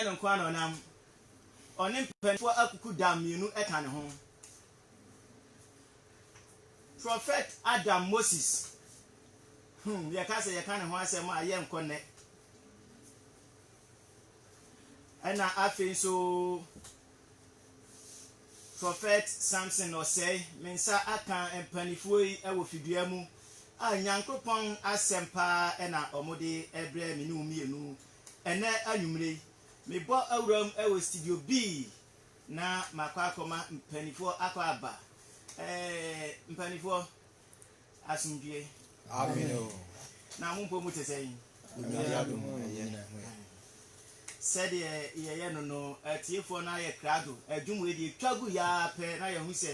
no nko ara na ɔnam. Ɔne mpanimfoɔ akuku da mmienu ka ne ho. Prɔfɛt Adam Moses, hmm, yɛka sɛ yɛka ne ho asɛm a, yɛnkɔ nnɛ. Ɛna afei nso Prɔfɛt Samson Ɔsɛe, me nsa aka mpanimfoɔ yi wɔ fidua mu a Nyankopɔn asɛm paa na wɔde brɛ me ne wo mmienu Ɛnnɛ anwummere yi, mebɔ awuram wɔ studio B na makɔ akɔma mpanimfoɔ akɔ aba. Eeii, mpanimfoɔ, asomdwoeɛ. Amen o. Na mo mpɔ mu te sɛn? Nyame adom a ɛyɛ. Sɛdeɛ yɛyɛ no no, atiefoɔ no ayɛ krado. Adwum wei deɛ ɛtwa guiɛ ara pɛ na yɛhu sɛ,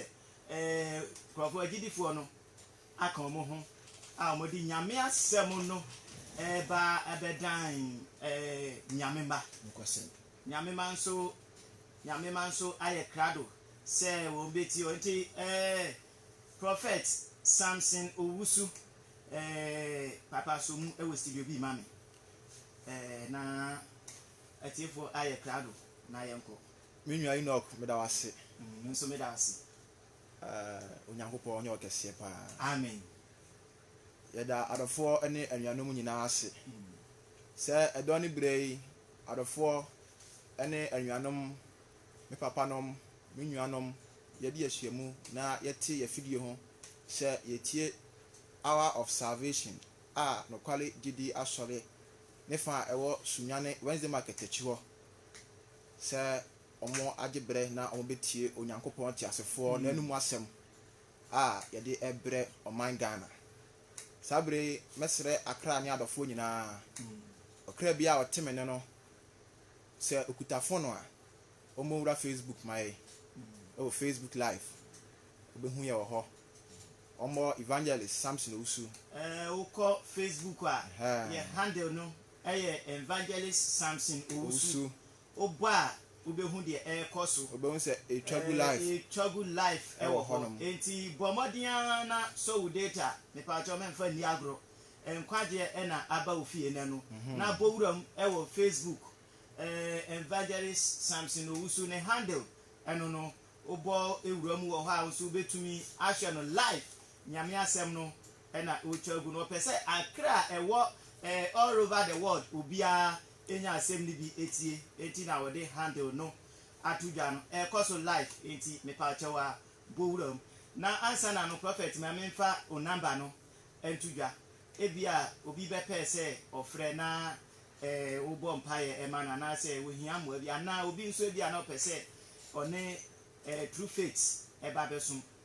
eeii, nkurɔfoɔ, agyidifoɔ no, aka wɔn ho a wɔde Nyame asɛm no reba abɛdan Nyame mma. Nyame mma nso Nyame mma nso ayɛ krado sɛ wɔn bɛtie wɔn. Nti Prophet Samson Owusu Papa so mu wɔ studio bi ma me na atiefoɔ ayɛ krado na yɛnkɔ. Me nua Enoch meda wo ase. Me nso meda wo ase. Eh Onyankopɔn nyɛ ɔkɛseɛ paa. Amen. Yɛda adɔfoɔ ne anuanom nyinaa ase sɛ ɛdɔn ne berɛ yi adɔfoɔ ne anuanom, me papanom, me nuanom yɛde yɛahyiamu na yɛte yɛafidie ho sɛ yɛtie Hour of Salvation a Nokware Gyidie Asɔre ne fa a ɛwɔ Sunyani Wednesday Market akyi hɔ sɛ wɔagye berɛ na wɔbɛtie Onyankopɔn teasefoɔ n'anomu asɛm a yɛde rebrɛ ɔman Ghana. Saa berɛ yi, mɛsrɛ Accra ne adɔfoɔ nyinaa, ɔkra biara a ɔte me nne no, sɛ ɔkuta fon a, wɔmmɔwura Facebook ma yɛn, ɛwɔ Facebook Live, wɔbɛhu yɛn wɔ hɔ. Wɔmmɔ Evangelist Samson Owusu. Ɛɛ, wokɔ Facebook a, yɛn handle no yɛ Evangelist Samson Owusu. wobɔ a wobɛhu deɛ ɛrekɔ so. Wobɛhu sɛ ɛretwa gu live. Ɛretwa gu live ɛwɔ hɔ. Enti bɔ mmɔden ara na sɔ wo data. Mepaakyɛw mɛmfa nni agorɔ. Nkwagyeɛ ɛna aba wo fie nnɛ no. Na bɔ wuram ɛwɔ Facebook. Evangelist Samson Owusu ne handle ɛno no. Wobɔ wura mu wɔ hɔ a wo nso wobɛtumi ahwɛ no live. Nyame asɛm no ɛna ɔretwa gu no. Ɔpɛ sɛ akra a ɛwɔ all over the world obiara nya asɛm no bi tie nti na wɔde handle no ato dwa no ɛkɔ so live nti mepaakyɛw a bɔ wura mu na ansa na no prophet ma memfa wo number no nto dwa ebia obi bɛpɛɛ sɛ ɔfrɛ na eh, wobɔ mpaeɛ ɛma no anaasɛ wɔhia mmoa bi anaa obi nso ebia na ɔpɛ sɛ ɔne eh, true faith ɛba bɛsom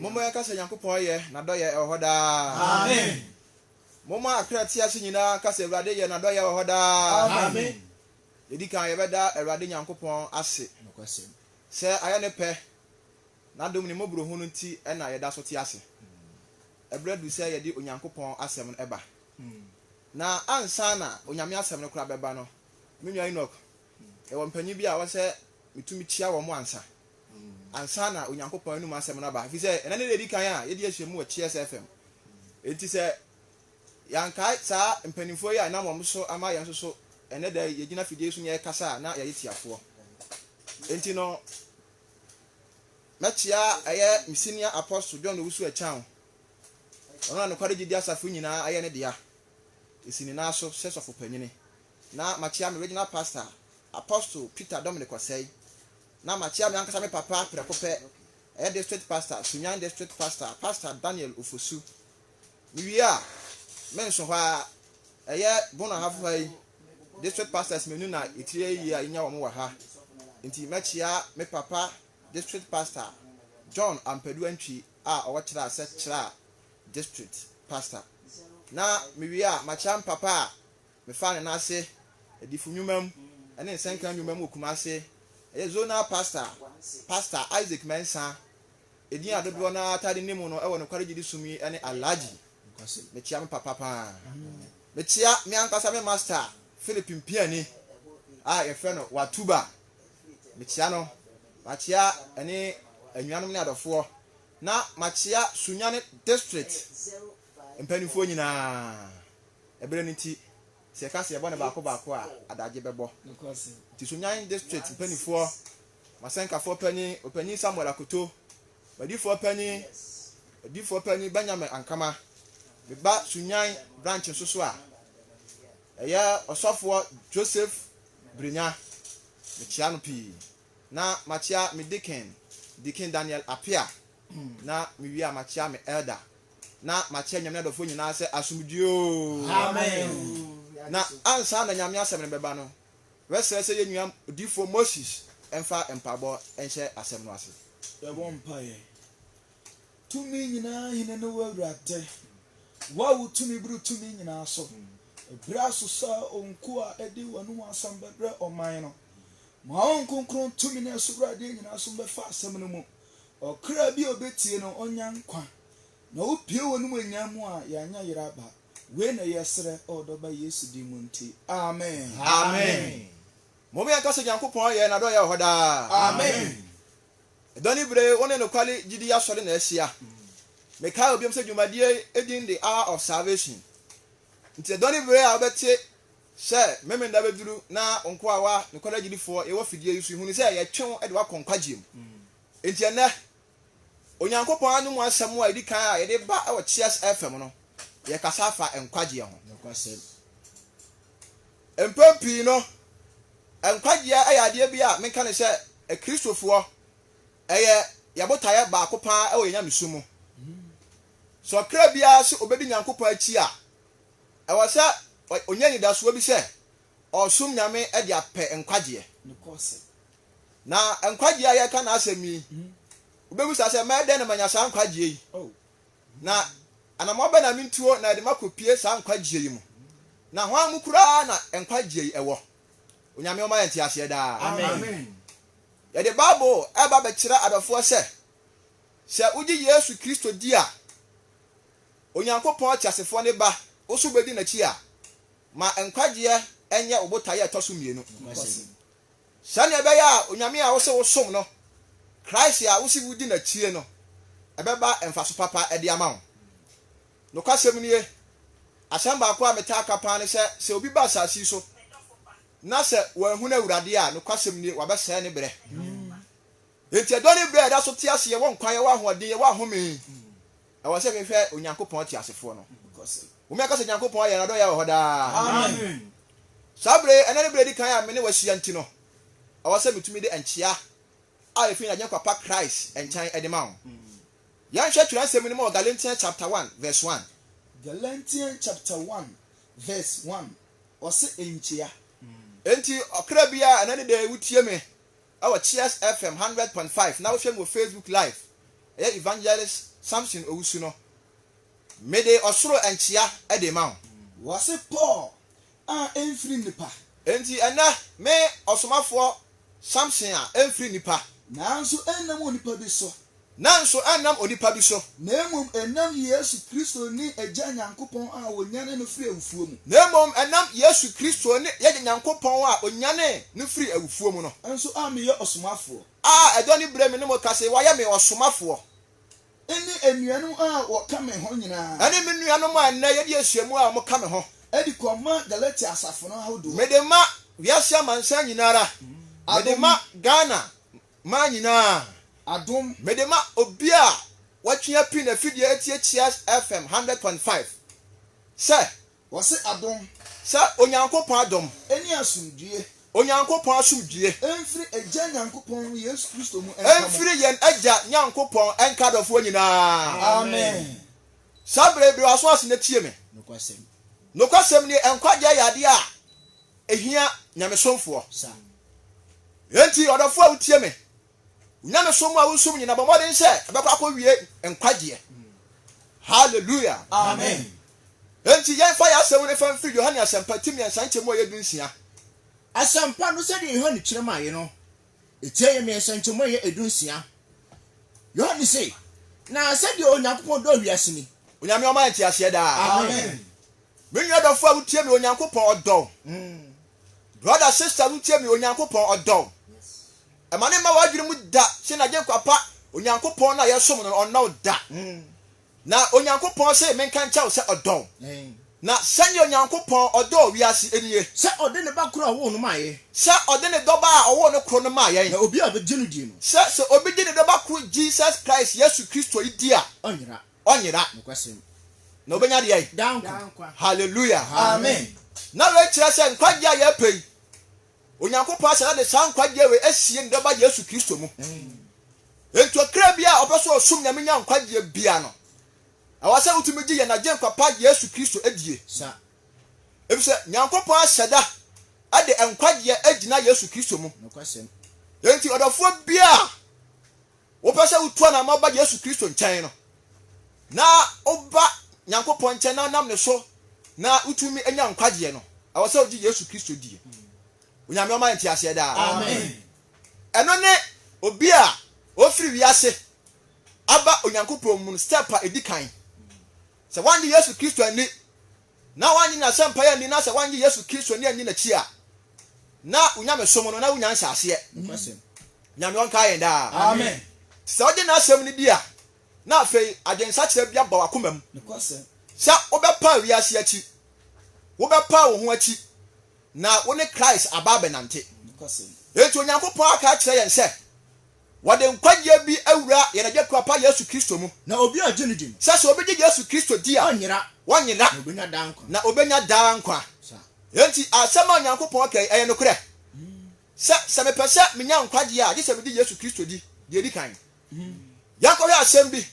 Momma yɛnka sɛ Nyankopɔn yɛ, N'adɔyɛ wɔ hɔ daa. Amen. Momma akra a ɛte ase nyinaa nka sɛ Awurade yɛ, N'adɔyɛ wɔ hɔ daa. Amen. Yɛdi kan yɛbɛda Awurade Nyankopɔn ase sɛ ayɛ Ne pɛ, N'adom ne mmɔborohunu nti na yɛda so te ase. Ɛberɛ aduru sɛ yɛde Onyankopɔn Asɛm no ba. Na ansa na Onyame Asɛm no koraa bɛba no, me nua Enoch, yɛwɔ mpanyin bi a wɔsɛ metumi kyia wɔn ansa. ansa na Onyankopɔn anom asɛm no aba, efisɛ ɛnnɛ ne da a edi kan a yɛde ahyia mu wɔ Cheers FM. Enti sɛ yɛankae saa mpanimfoɔ yi a ɛnam wɔn so ama yɛn nso so ɛnnɛ da yi yɛgyina fidie so na yɛrekasa a, na yɛyɛ tiafoɔ. Enti no, mɛkyea ɛyɛ me senior apostle John Owusu Akyang, ɔno na nokware gyidi asafo nyinaa ayɛ ne dea, esi ne nan so sɛ sɔfo panyini, na makyea me regional pastor, Apostle Peter Dominic Osei, Na makyea me ankasa me papa prɛko pɛ, ɛyɛ District Pastor, Sunyani District Pastor, Pastor Daniel Ofosu. Mewie a, me nso hɔ ara, ɛyɛ Bono Ahafo ha yi, District Pastors mmienu na ɛtiri ayie a yɛnya wɔn wɔ ha. Nti mɛkyea me papa District Pastor, John Ampadu Antwi a ɔwɔ Kyerɛ Ase Kyerɛ District Pastor. Na mewie a, makyea me papa a Mefaa no n'ase adifo nnwuma mu ne nsɛnka nnwuma mu wɔ Kumasi. Ɛyɛ Zonal Pastor, Pastor Isaac Mensah, edin a dodoɔ no ara taa de nim no wɔ nokware gyidi som yi ne Alhaji. Mekyia me papa pa ara. Mekyia me ankasa me Master Philip Mpiani a yɛfrɛ no Watuba. Mekyia no. Makyia ɛne anuanom ne adɔfoɔ. Na makyia Sunyani District Mpanimfoɔ nyinaa, ɛberɛ no nti, sɛ yɛka sɛ yɛbɔ no baako baako a, adagye bɛbɔ. Nti Sunyani District mpanimfoɔ, m'asɛnkafoɔ panin, Ɔpanin Samuel Akoto, m'adifoɔ panin, adifoɔ panin Benjamin Ankama, me ba Sunyan branch nso so a, ɛyɛ ɔsɔfoɔ Joseph Brinya, mekyea no pii. Na makyea me deacon, Deacon Daniel Appiah, na mewie a makyea me elder, na makyea Nyame adɔfoɔ nyinaa sɛ asomdwie oo. Amen. Na ansa na Nyame asɛm no bɛba no, wɛsrɛ sɛ yɛn nua Odiyifoɔ Moses mfa mpaabɔ nhyɛ asɛm no ase. Yɛbɔ mpaeɛ. Tumi nyinaa hene ne wo awurade, wo a wo tumi boro tumi nyinaa so. Ɛberɛ aso sɛ ɔnko a ɛde wɔn ho asɛm bɛbrɛ ɔman no. Ma wɔn kronkron tumi ne ɛsobradeɛ nyinaa so mbɛfa asɛm no mu. Ɔkra bi a ɔbɛtie no ɔnya nkwa, na wopue wɔ animuonyam mu a yɛanyɛ yera aba. Wei na yɛsrɛ wɔ Ɔdɔ Ba Yesu din mu nti, amen. Amen. Mom yɛnka sɛ Nyankopɔn ayɛ, N'adɔyɛ wɔ hɔ daa. Amen. Ɛdɔ ne bere wo ne nokware gyidi asɔre na ahyia. Mekae wɔ biom sɛ dwumadie yi din de Hour of Salvation. Nti ɛdɔ ne bere a wobɛte sɛ Memeneda bɛduru na wo nkoa wa nokware agyidifoɔ yɛwɔ fidie yi so yi hunu sɛ yɛtwe wo de wo akɔ nkwagyeɛ mu. Nti ɛnnɛ Onyankopɔn anom asɛm a ɛdi kan a yɛde ba wɔ Cheers FM no yɛkasa afa nkwagyeɛ ho. Mpɛn pii no, nkwagyeɛ yɛ adeɛ bi a menka no sɛ Akristofoɔ, ɛyɛ yɛn botaeɛ baako pa ara wɔ yɛn nyamesu mu. Sɛ ɔkra biara se ɔbɛdi Nyankopɔn akyi a, ɛwɔ sɛ ɔnya anidasoɔ bi sɛ ɔresom Nyame de apɛ nkwagyeɛ. Na nkwagyeɛ a yɛreka n'asɛm yi, wobɛbisa sɛ, mɛyɛ dɛn na manya saa nkwagyeɛ yi? Na anammɔn bɛn na mentuo na ɛde makɔpue saa nkwagyeɛ yi mu? Na hwan mu koraa na nkwagyeɛ yi wɔ? Onyame ɔma yɛn nteaseɛ daa. Amen. Yɛde Bible reba bɛkyerɛ adɔfoɔ sɛ, sɛ wogye Yesu Kristo di a, Onyankopɔn teasefoɔ ne ba, wo nso wobɛdi n'akyi a, ma nkwagyeɛ nyɛ wo botaeɛ a ɛtɔ so mmienu. Sɛnea ɛbɛyɛ a Onyame a wose wosom no, Christ a wose wudi n'akyi no, ɛbɛba mfaso papa de ama wo. Nokwasɛm nie, asɛm baako a metaa ka paa ne sɛ, sɛ obi ba asase yi so na sɛ wanhunu Awurade a, nokwasɛm nie, wabɛsɛe ne berɛ. Enti ɛdɔ ne berɛ a yɛda so te ase, yɛwɔ nkwa, yɛwɔ ahoɔden, yɛwɔ ahome. Ɛwɔ sɛ mehwɛ Onyankopɔn teasefoɔ no. Wumi aka sɛ Nyankopɔn ayɛ n'adɔyɛ wɔ hɔ daa. Saa berɛ yi, ɛnnɛ ne berɛ a ɛdi kan a me ne wo ahyia nti no, ɛwɔ sɛ metumi de nkyea a ɛfiri n'Agyenkwa pa Christ nkyɛn de ma wo. Yɛnhwɛ twerɛnsɛm no mu wɔ Galatians chapter one verse one. Galatians chapter one verse one, ɔse nkyea. Enti ɔkra biara a ɛnnɛ ne da yi wotie me ɛwɔ Cheers FM hundred point five na wohwɛ me wɔ Facebook live ɛyɛ Evangelist Samson Owusu no mede ɔsoro nkyea ɛde rema wo. Wɔse Paul a ɛmfiri nnipa. Enti ɛnnɛ me ɔsomafoɔ Samson a ɛmfiri nnipa. Nanso ɛnnam onipa bi so. Nanso ɛnnam onipa bi so. Na mmom ɛnam Yesu Kristo ne Agya Nyankopɔn a ɔnyanee no firii awufoɔ mu. Na mmom ɛnam Yesu Kristo ne Agya Nyankopɔn a ɔnyanee no firii awufoɔ mu no. Nso a meyɛ ɔsomafoɔ. A ɛdɔ ne berɛ me ne mo kasa yi, wɔayɛ me ɔsomafoɔ. Ne anuanom a wɔka me ho nyinaa. Ɛne me nuanom a ɛnnɛ yɛdi nhyiamu a wɔka me ho. De kɔma Galatia asafo no ahodoɔ. Mede ma wiase amansan nyina ara. Mede ma Ghana Maa nyinaa, adom mede ma obi a watwe api n'afidie atie Cheers FM hundred point five sɛ. Wɔse adom. Sɛ Onyankopɔn adom. Ɛne asomdwie. Onyankopɔn asomdwie. Ɛmfiri Agya Nyankopɔn ne Yesu Kristo mu nka mo. Ɛmfiri yɛn Agya Nyankopɔn nka adɔfoɔ nyinaa. Amen. Saa berɛ yi, bue w'aso ase na tie me. Nokwasɛm. Nokwasɛm nie, nkwagyeɛ yɛ adeɛ a Ehia nyamesomfoɔ saa. Enti ɔdɔfoɔ a wotie me, wo nyamesom a wosum nyina, bɔ mmɔden sɛ ɛbɛkɔ akɔwie nkwagyeɛ. Hallelujah. Amen. Enti yɛmfa yɛn asɛm no mfa mfiri Yohane Asɛmpa ti mmiɛnsa nkyɛmu a ɛyɛ du nsia. Asɛmpa no sɛdeɛ Yohane kyerɛ maeɛ no, ɛtia yɛ mmiɛnsa nkyɛmu a ɛyɛ ɛdu nsia. Yohane se, Na sɛdeɛ Onyankopɔn dɔɔ wiase ni. Onyame ɔma yɛn nteaseɛ daa. Amen. Me nua dɔfo a wotie me Onyankopɔn ɔdɔ wo Brother sister wotie me Onyankopɔn ɔdɔ wo Ɛma ne mma w'adwene mu da se n'agyenkwa pa Onyankopɔn no a yɛsom no no ɔnnɔ wo da Na Onyankopɔn se menka nkyɛ wo sɛ ɔdɔ wo Na sɛnea Onyankopɔn ɔdɔɔ wiase nie Sɛ ɔde ne ba koro a ɔwoo no maa yɛn. Sɛ ɔde ne dɔba a ɔwoo no koro no maa yɛn. Na obiara a ɔbɛgye no die no. Sɛ sɛ obi gye ne dɔba koro Jesus Christ Yesu Kristo yi di a. Ɔnyera. ɔnyera. Nokwasɛm mu. Na obenya deɛ ayi? Daa nkwa. Daa nkwa. Hallelujah. Amen. Na wei kyerɛ sɛ nkwagyeɛ a yɛpɛ yi, Onyankopɔn ahyɛ na de saa nkwagyeɛ wei asie ne dɔba Yesu Kristo mu. Enti okra bi a ɔpɛ sɛ ɔsom Nyame nya nkwagyeɛ bia no, ɛwɔ sɛ wotumi gye yɛn Agyenkwa pa Yesu Kristo adie. Sa. Efisɛ Nyankopɔn ahyɛ da de nkwagyeɛ agyina Yesu Kristo mu. Nokwasɛm. Enti ɔdɔfoɔ bia a Wopɛ sɛ wotu anamɔ ba Yesu Kristo nkyɛn no, na woba Nyankopɔn nkyɛn na nam ne so na wotumi anya nkwagyeɛ no, ɛwɔ sɛ wogye Yesu Kristo die. Onyame ɔma yɛ nteaseɛ daa. Amen. Ɛno ne obi a ɔfiri wiase aba Onyankopɔn mu no step a ɛdi kan. Sɛ woannye Yesu Kristo anni na wannye n'asɛmpa yi anni na sɛ wannye Yesu Kristo nni anni n'akyi a, na wo nyamesom no, na wonnya nhyɛaseɛ. Nyame ɔnkae yɛn daa. Amen. Sɛ wogye n'asɛm no di a, na afei adwensakyera bi aba w'akoma mu sɛ wobɛpa wiase akyi, wobɛpa wo ho akyi, na wo ne Christ aba abɛnante. Enti Onyankopɔn aka akyerɛ yɛn sɛ Wɔde nkwagyeɛ bi awura yɛn Agya Kuapa Yesu Kristo mu. Na obi a ɔgye no di no. Sɛ sɛ obi gye Yesu Kristo di a. Ɔnyera. Ɔnyera. Na ɔbɛnya daa nkwa. Na ɔbɛnya daa nkwa. Saa. Enti asɛm a Onyankopɔn ka yi, ɛyɛ nokorɛ. Sɛ, sɛ mepɛ sɛ menya nkwagyeɛ a, gye sɛ megye Yesu Kristo di, deɛ ɛdi kan. Yɛnkɔhwɛ asɛm bi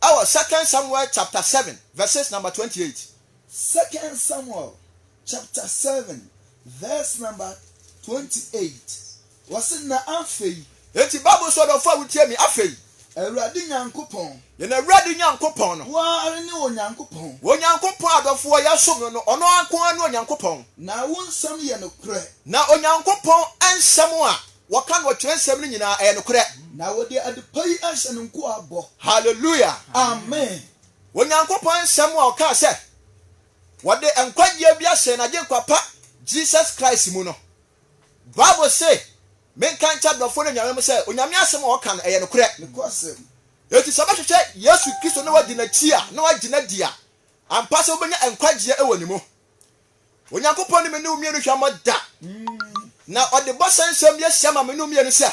wɔ Second Samuel chapter seven verses number twenty eight. Second Samuel chapter seven verse number twenty eight wɔsi na afei. Eti Bible sɛ ɔdɔfo a wotie mi afei. Awurade Nyankopɔn. Yɛn Awurade Nyankopɔn no. Wo ara ne Onyankopɔn. Onyankopɔn adɔfo a yɛsom no no, ɔno nko ara ne Onyankopɔn. Na wo nsɛm yɛ nokorɛ. Na Onyankopɔn nsɛm a wɔka no wɔ twerɛnsɛm no nyinaa, ɛyɛ nokorɛ. Na wɔde adepa yi ahyɛ no nkoa bɔ. Hallelujah. Amen. Onyankopɔn nsɛm a ɔkaa sɛ. wɔde nkwagyeɛ bi ahyɛ yɛn Agyenkwa pa Jesus Christ mu no. Bible se, Menka nkyɛ adɔfoɔ no anuanom sɛ Onyame asɛm a wɔka no, ɛyɛ nokorɛ. Enti sɛ wobɛhwehwɛ Yesu Kristo na woadi N'akyi a, na woagye No adi a, ampa sɛ wobɛnya nkwagyeɛ wɔ Ne mu. Onyankopɔn ne me ne wo mmienu hwammɔ da. Na Ɔde bɔhyɛ nsɛm bi ahyɛ ma me ne wo mmienu sɛ,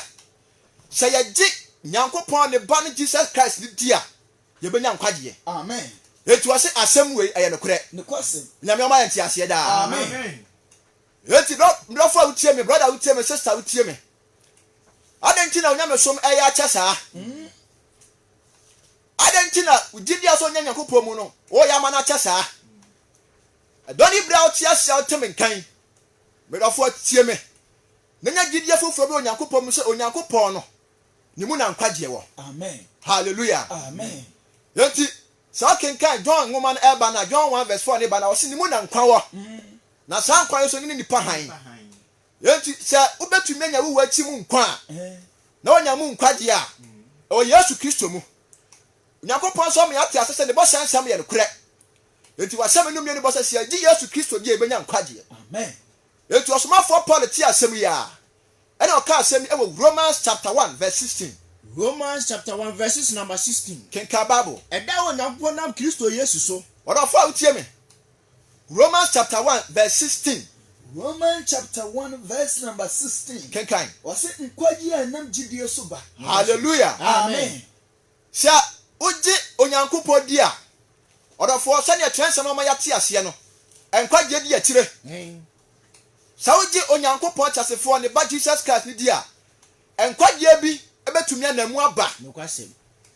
sɛ yɛgye Nyankopɔn Ne Ba no Jesus Christ no di a, Yɛbɛnya nkwagyeɛ. Amen. Enti ɔse asɛm wei ɛyɛ nokorɛ. Nokwasɛm. Nyame ɔma yɛ nteaseɛ daa. Amen. Enti dɔfo a wotie me, brother wotie me, sister wotie me. Adɛn nti na onyamesom ɛyɛ akyɛ saa? Adɛn nti na gyidi a sɛ ɔnya Nyankopɔn mu no ɔyɛ ama no akyɛ saa? Ɛdɔ ne berɛ a wote ase a wote me nka yi, me dɔfo tie me, na nya gyidie foforɔ bi wɔ Nyankopɔn mu sɛ Onyankopɔn no ne mu na nkwagyeɛ wɔ. Hallelujah. Yɛnti sɛ ɔkenkan John nwoma no ɛba na John 1 verse 4 ne ba na ɔse ne mu na nkwa wɔ. Mm. Na saa nkwa no so ne ne nipa hann. Yɛnti sɛ wobɛtumi anya wowu akyi mu nkwa a eh. na wanya mu nkwagyeɛ a mm. ɛwɔ Yesu Kristo mu. Onyankopɔn nso ama yɛate ase sɛ ne bɔhyɛ nsɛm yɛ nokorɛ. Enti wasɛm no mmienu bɔ sɛ sɛ yɛgye Yesu Kristo di a yɛbɛnya nkwagyeɛ. Enti ɔsomafoɔ Paul te asɛm yi a Ɛnna ɔkaa asɛm yi wɔ Romans chapter one verse sixteen. Romans chapter one verses number sixteen. Kenkan Bible. Ɛda a Onyankopɔn nam Kristo Yesu so. Ɔdɔfo a wotie me. Romans chapter one verse sixteen. Romans chapter one verse number sixteen. Kenkan. Ɔse nkwagye a ɛnam gyidie so ba. Hallelujah. Amen. Sɛ wogye Onyankopɔn di a, ɔdɔfoɔ, sɛdeɛ twerɛnsɛm no ama yɛate aseɛ no, nkwagyeɛ di akyire. Sɛ wogye Onyankopɔn Kyasefoɔ, Ne Ba Jesus Christ no di a, nkwagyeɛ bi bɛtumi anam mu aba.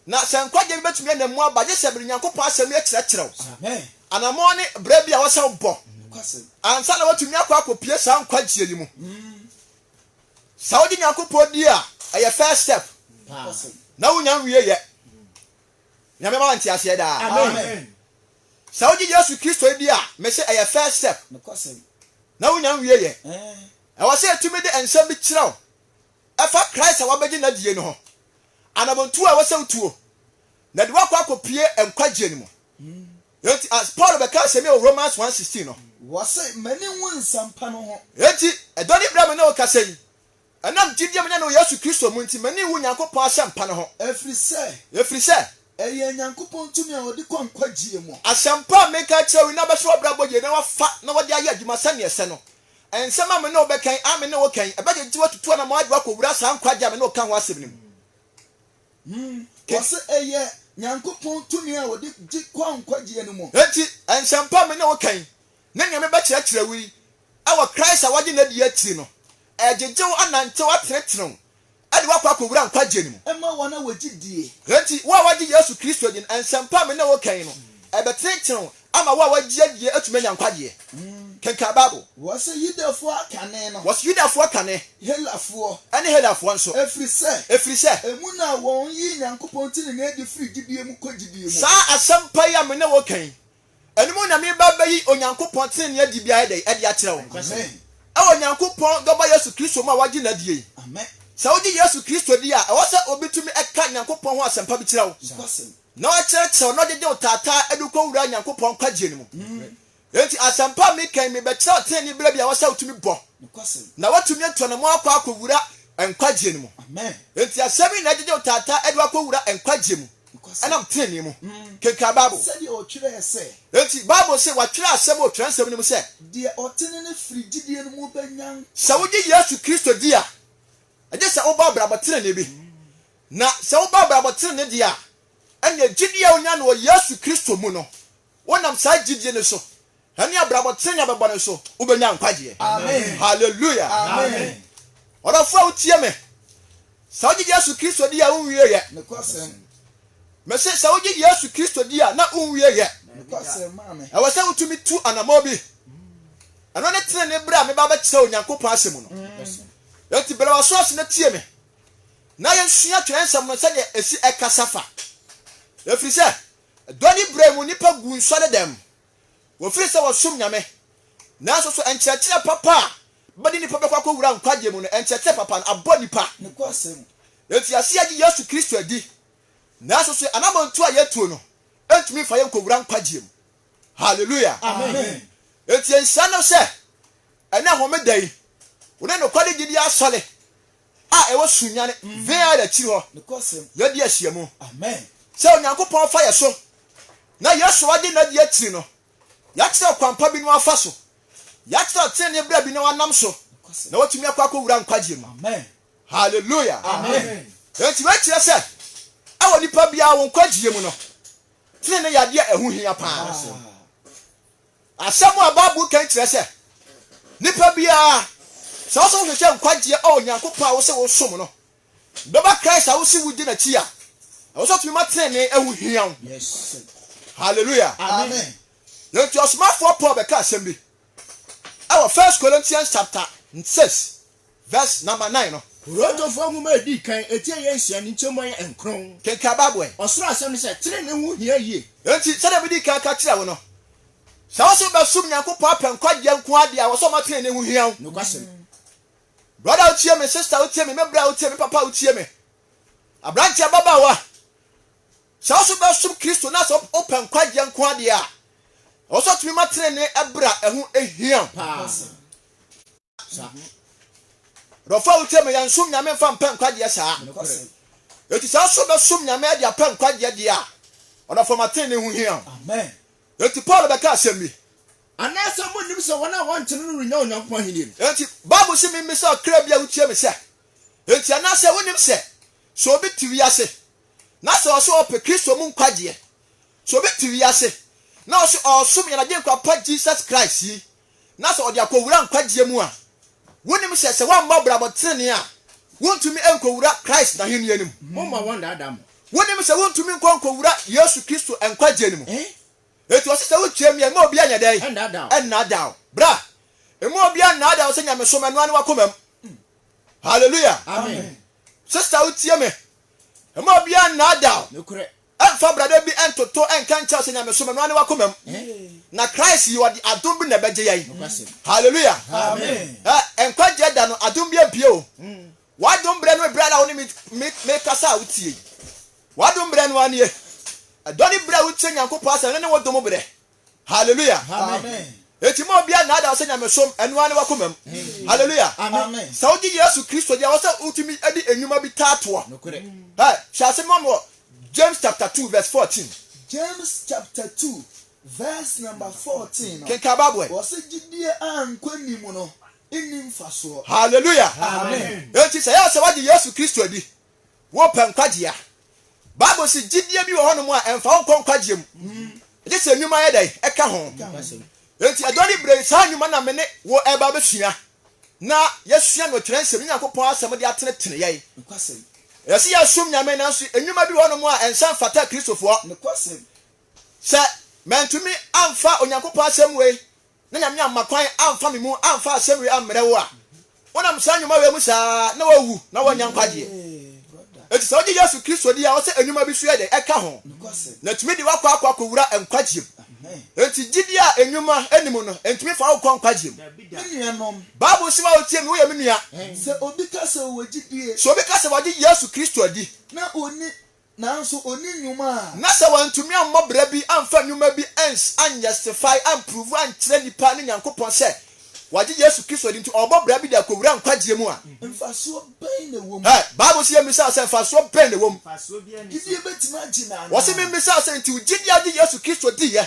Na sɛ nkwagyeɛ bi bɛtumi anam mu aba, gye sɛ bere Nyankopɔn Asɛm yɛ kyerɛkyerɛ wo. Anammɔn ne berɛ bi a ɛwɔ sɛ wobɔ ansa na woatumi akɔ akɔpue saa nkwagyeɛ yi mu. Sɛ wogye Nyankopɔn di a, ɛyɛ first step, na wonya nwieɛ. Nyame ma wo nteaseɛ daa. Amen. Sɛ wogye Yesu Kristo di a, mese ɛyɛ first step na wunya nwieɛ. Ɛwɔ sɛ yɛtumi de nsɛm bi kyerɛ wo ɛfa Christ a wabɛgye n'adie no ho, anamɔntuo a ɛwɔ sɛ wotuo na de wo akɔ akɔpue nkwagyeɛ no mu. Enti as Paul bɛka asɛm yi wɔ Romans one sixteen no. Wɔse, M'ani nwu nsɛmpa no ho. Enti, ɛdɔ ne bra me ne wo kasa yi, Ɛnam gyidie a manya no wɔ Yesu Kristo mu nti, m'ani nwu Nyankopɔn asɛmpa no ho. Ɛfiri sɛ. Ɛfiri sɛ. Ɛyɛ Nyankopɔn tumi a wɔde kɔ nkwagyeɛ mu. Asɛmpa a mereka akyerɛ wo yi na wɔbɛhyɛ w'abrabɔ yie na wɔafa na wɔde ayɛ adwuma sɛdeɛ ɛsɛ no. Nsɛm a me ne wo bɛka yi, a me ne wo ka yi, ɛbɛgyegye wo atutu anamɔn de wo akɔwura saa nkwagyeɛ a me ne wo ka ho asɛm no mu. Wɔse ɛyɛ Nyankopɔn tumi a wɔde gye kɔ nkwagyeɛ no mu. Enti, nsɛmpa a me ne wo ka yi, ne nea mebɛkyerɛkyerɛ wo yi wɔ Christ a wagye no adi akyiri no, ɛregyegye wo anantew atenetenew de wo akɔ akowura nkwagye no mu. Ɛma wɔn a wɔgye die. Enti, wo a woagye Yesu Kristo adi no, nsɛmpa a me ne wo reka yi no, ɛbɛtenetenew wo ama wo a woagye adie atumi anya nkwagyeɛ. Kenkan Bible. Wɔse Yudafoɔ akane no. Wɔse Yudafoɔ akane. Helafoɔ. Ɛne Helafoɔ nso. Ɛfiri sɛ. Ɛfiri sɛ. Emu na wɔn yii Nyankopɔn tenenee adi firii gyidie mu kɔ gyidie mu. Saa asɛmpa yi a me ne wo reka yi, Ɛno mu na mereba bɛyi Onyankopɔn tenenee adi biara dɛn adi akyerɛ wo? Ɛwɔ Onyankopɔn Dɔba Yesu Kristo mu a wagye no adie. Sɛ wogye Yesu Kristo di a, ɛwɔ sɛ obi tumi ka Nyankopɔn ho asɛmpa bi kyerɛ wo, na ɔkyerɛkyerɛ wo na ɔgyegye wo taataa de kɔ wura Nyankopɔn nkwagyeɛ no mu. Enti asɛmpa a meka yi, mebɛkyerɛ wo tenenee berɛ bi a ɛwɔ sɛ wotumi bɔ, na woatumi atu anammɔn akɔ akɔwura nkwagyeɛ no mu. Enti asɛm yi na ɛgyegye wo taataa de wo akɔwura nkwagyeɛ mu. nam trenee mu kenkan Bible. Enti Bible se wɔatwerɛ asɛm wɔ Twerɛnsɛm no mu sɛ, Sɛ wogye Yesu Kristo di a, ɛgye sɛ wobɔ abrabɔ trenee bi. Na sɛ wobɔ abrabɔ trenee deɛ a, ɛnneɛ gyidie a wonya no wɔ Yesu Kristo mu no, wonam saa gyidie no so Ɛne abrabɔ tene a bɛbɔ no so wobɛnya nkwagyeɛ. Halleluya! Ɔdɔfoɔ a wotie me, sɛ wogye Yesu Kristo di a wonwieɛ. Mese sɛ wogye Yesu Kristo di a na wonwieɛ. Ɛwɔ sɛ wotumi tu anammɔ bi. Ɛno ne tene ne berɛ a meba bɛkyerɛ Onyankopɔn asɛm no. Enti brɛ w'aso ase na tie me na yɛnsua twerɛnsɛm no sɛdeɛ ɛsi ɛkasa fa. Ɛfiri sɛ, dɔ ne brɛ mu nnipa gu nsɔredɛm. Wɔfiri sɛ wɔsom Nyame. Nanso so nkyerɛkyerɛ papa a bɛde nnipa bɛkɔ akɔwura nkwagyeɛ mu no, nkyerɛkyerɛ papa no, abɔ nnipa? Enti yɛse yɛgye Yesu Kristo adi, nanso so anamɔntuo a yɛtuo no ntumi mfa yɛn nkɔwura nkwagyeɛ mu. Halleluya! Enti nhyira ne sɛ ɛnnɛ Homeda yi, wo ne nokware gyidie asɔre a ɛwɔ Sunyani Vale akyiri hɔ yɛadi ahyiamu sɛ Onyankopɔn fa yɛ so na Yesu agye n'adi akyiri no, yɛakyerɛ ɔkwampa bi na wafa so, yɛakyerɛ ɔtenenee berɛ bi na wanam so na watumi akɔ akɔwura nkwagyeɛ mu. Hallelujah! Enti wei kyerɛ sɛ ɛwɔ nipa biara wo nkwagyeɛ mu no, tenenee yɛ adeɛ a ɛho hia paa. Asɛm a Bible ka yi kyerɛ sɛ nipa biara, sɛ ɔsɛ wohwehwɛ nkwagyeɛ a Onyankopɔn a wose wosom no bɛba Christ a wose wogye n'akyi a, ɛwɔ sɛ ɔtumi ma tenenee ho hia wo. Hallelujah. Amen. Enti ɔsomafoɔ Paul bɛka asɛm bi ɛwɔ First Corinthians chapter 6 Vɛs nɔma nan no. Korintofoɔ nwoma a ɛdi kan, eti a ɛyɛ nsia, ne nkyɛmu a ɛyɛ nkron. Kenkan Bible ɛ. Ɔsoro asɛm ne sɛ, trenee ho hia yie. Enti, sɛdeɛ medii kan ka kyerɛɛ wo no, sɛ wo nso bɛsom Nyankopɔn apɛ nkwagyeɛ nko ara deɛ a, ɛwɔ sɛ ɔma trenee ho hia wo. Nokwasɛm. Brɔda a wotie me, sista a wotie me, me bra a wotie me, me papa a wotie me, aberanteɛ, ababaawa, sɛ wo nso bɛsom Kristo na sɛ wopɛ nkwagyeɛ nko ara deɛ a, ɛwɔ sɛ ɔtumi ma trenee brɛ a ɛho hia wo. Paa. saa dɔfo a wotie me yɛn som nyame mfa mpɛ nkwagyeɛ saa eti saa so bɛsom nyame ade apɛ nkwagyeɛ deɛ a ɔdɔfo matene ne ho hia ho eti paul bɛka asɛm bi anaasɛ monnim sɛ wɔn a wɔntene no renya onyankopɔn ahenni no enti bible se memmisa ɔkra bi a wotie me sɛ enti anaasɛ wonim sɛ sɛ obi te wiase na sɛ ɔsɛ ɔpɛ kristo mu nkwagyeɛ sɛ obi te wiase na ɔsɛ ɔsom yɛn agyenkwa pa jesus christ yi na sɛ ɔde akɔwura nkwagyeɛ mu a, wonim sɛ sɛ woammɔ abrabɔ tenenee a, wontumi nkɔwura Christ n'ahennie no mu. Momma wɔnnaadaa mo. Wonim sɛ wontumi nkɔ nkɔwura Yesu Kristo nkwagyeɛ no mu. Enti ɔse sɛ wotwam yi a, mma obiara nyɛ dɛn? Ɛnnaadaa wo. Ɛnnaadaa wo. Bra. Mma obiara nnaadaa wo sɛ nyamesom, ɛnoa ne w'akomam. Hallelujah. Amen. Sister wotie me. Mma obiara nnaadaa wo. Nokorɛ. Ɛmfa brada bi ntoto nka nkyerɛ sɛ nyamesom ɛno ara ne w'akomam. Na Christ yi ɔde adom bi na ɛbɛgye yɛn. Hallelujah. Ɛ, nkwagyeɛ da no adom bi abue o. W'adom berɛ no eberɛ ara a wo ne me, me, me kasa a wotie yi. W'adom berɛ no ara nie. Ɛdɔ ne berɛ a wotie Nyankopɔn asɛm no ne wo dom berɛ. Hallelujah. Amen. Eti ma obiara nnaadaa sɛ nyamesom, ɛno ara ne w'akoma mu. Hallelujah. Amen. Sɛ wogye Yesu Kristo di a, ɛwɔ sɛ wotumi de nnwuma bi taa toa. Nokorɛ. Ɛ, hyɛ ase no wɔ James chapter two verse fourteen. James chapter two verse number fourteen no. Kenkan Bible ɛ. Wɔsi gyidie a nkwa ni mu no nni mfasoɔ. Hallelujah. Amen. Eti sɛ yɛ sɛ wagye Yesu Kristo adi Wopɛ nkwagye a? Bible se gyidie bi wɔ hɔnom a ɛmfa wo nkɔ nkwagyeɛ mu, gye sɛ nnwuma yɛ dɛn? Ɛka ho. Enti ɛdɔ ne berɛ yi, saa nnwuma na me ne wo ɛreba abɛsua, na yɛasua no wɔ twerɛnsɛm, ne Nyankopɔn asɛm de atenetene yɛn. Ɛyɛ sɛ yɛsom Nyame, nanso nnwuma bi wɔ hɔnom a ɛnsa mfata Kristofoɔ. Sɛ mantumi amfa Onyankopɔn asɛm wei na Nyame amma kwan amfa me mu amfa asɛm wei ammrɛ wo a, wonam saa nnwuma wei mu saa na woawu na woannya nkwagyeɛ. Enti sɛ wogye Yesu Kristo di a, ɛwɔ sɛ nnwuma bi nso yɛ dɛn? Ɛka ho, na ɛtumi de wo akɔ akɔ akɔwura nkwagyeɛ mu. Enti gyidie a nnwuma nni mu no, ɛntumi mfa wo nkɔ nkwagyeɛ mu. Bible se wo a wotie me, woyɛ me nua. Sɛ obi ka sɛ wagye Yesu Kristo adi. Nanso ɔnni nnwuma a. Na sɛ wantumi ammɔ bra bi amfa nnwuma bi ans anjustify amprove ankyerɛ nnipa ne Nyankopɔn sɛ wagye Yesu Kristo adi nti ɔrebɔ bra bi de akɔwura nkwagyeɛ mu a. Mfasoɔ bɛn na ɛwɔ mu? Ɛ, Bible se yɛmmisaa sɛ, Mfasoɔ bɛn na ɛwɔ mu? Gyidie bɛtumi agye no anaa? Wɔse memmisaa sɛ, Nti wo gyidie agye Yesu Kristo diiɛ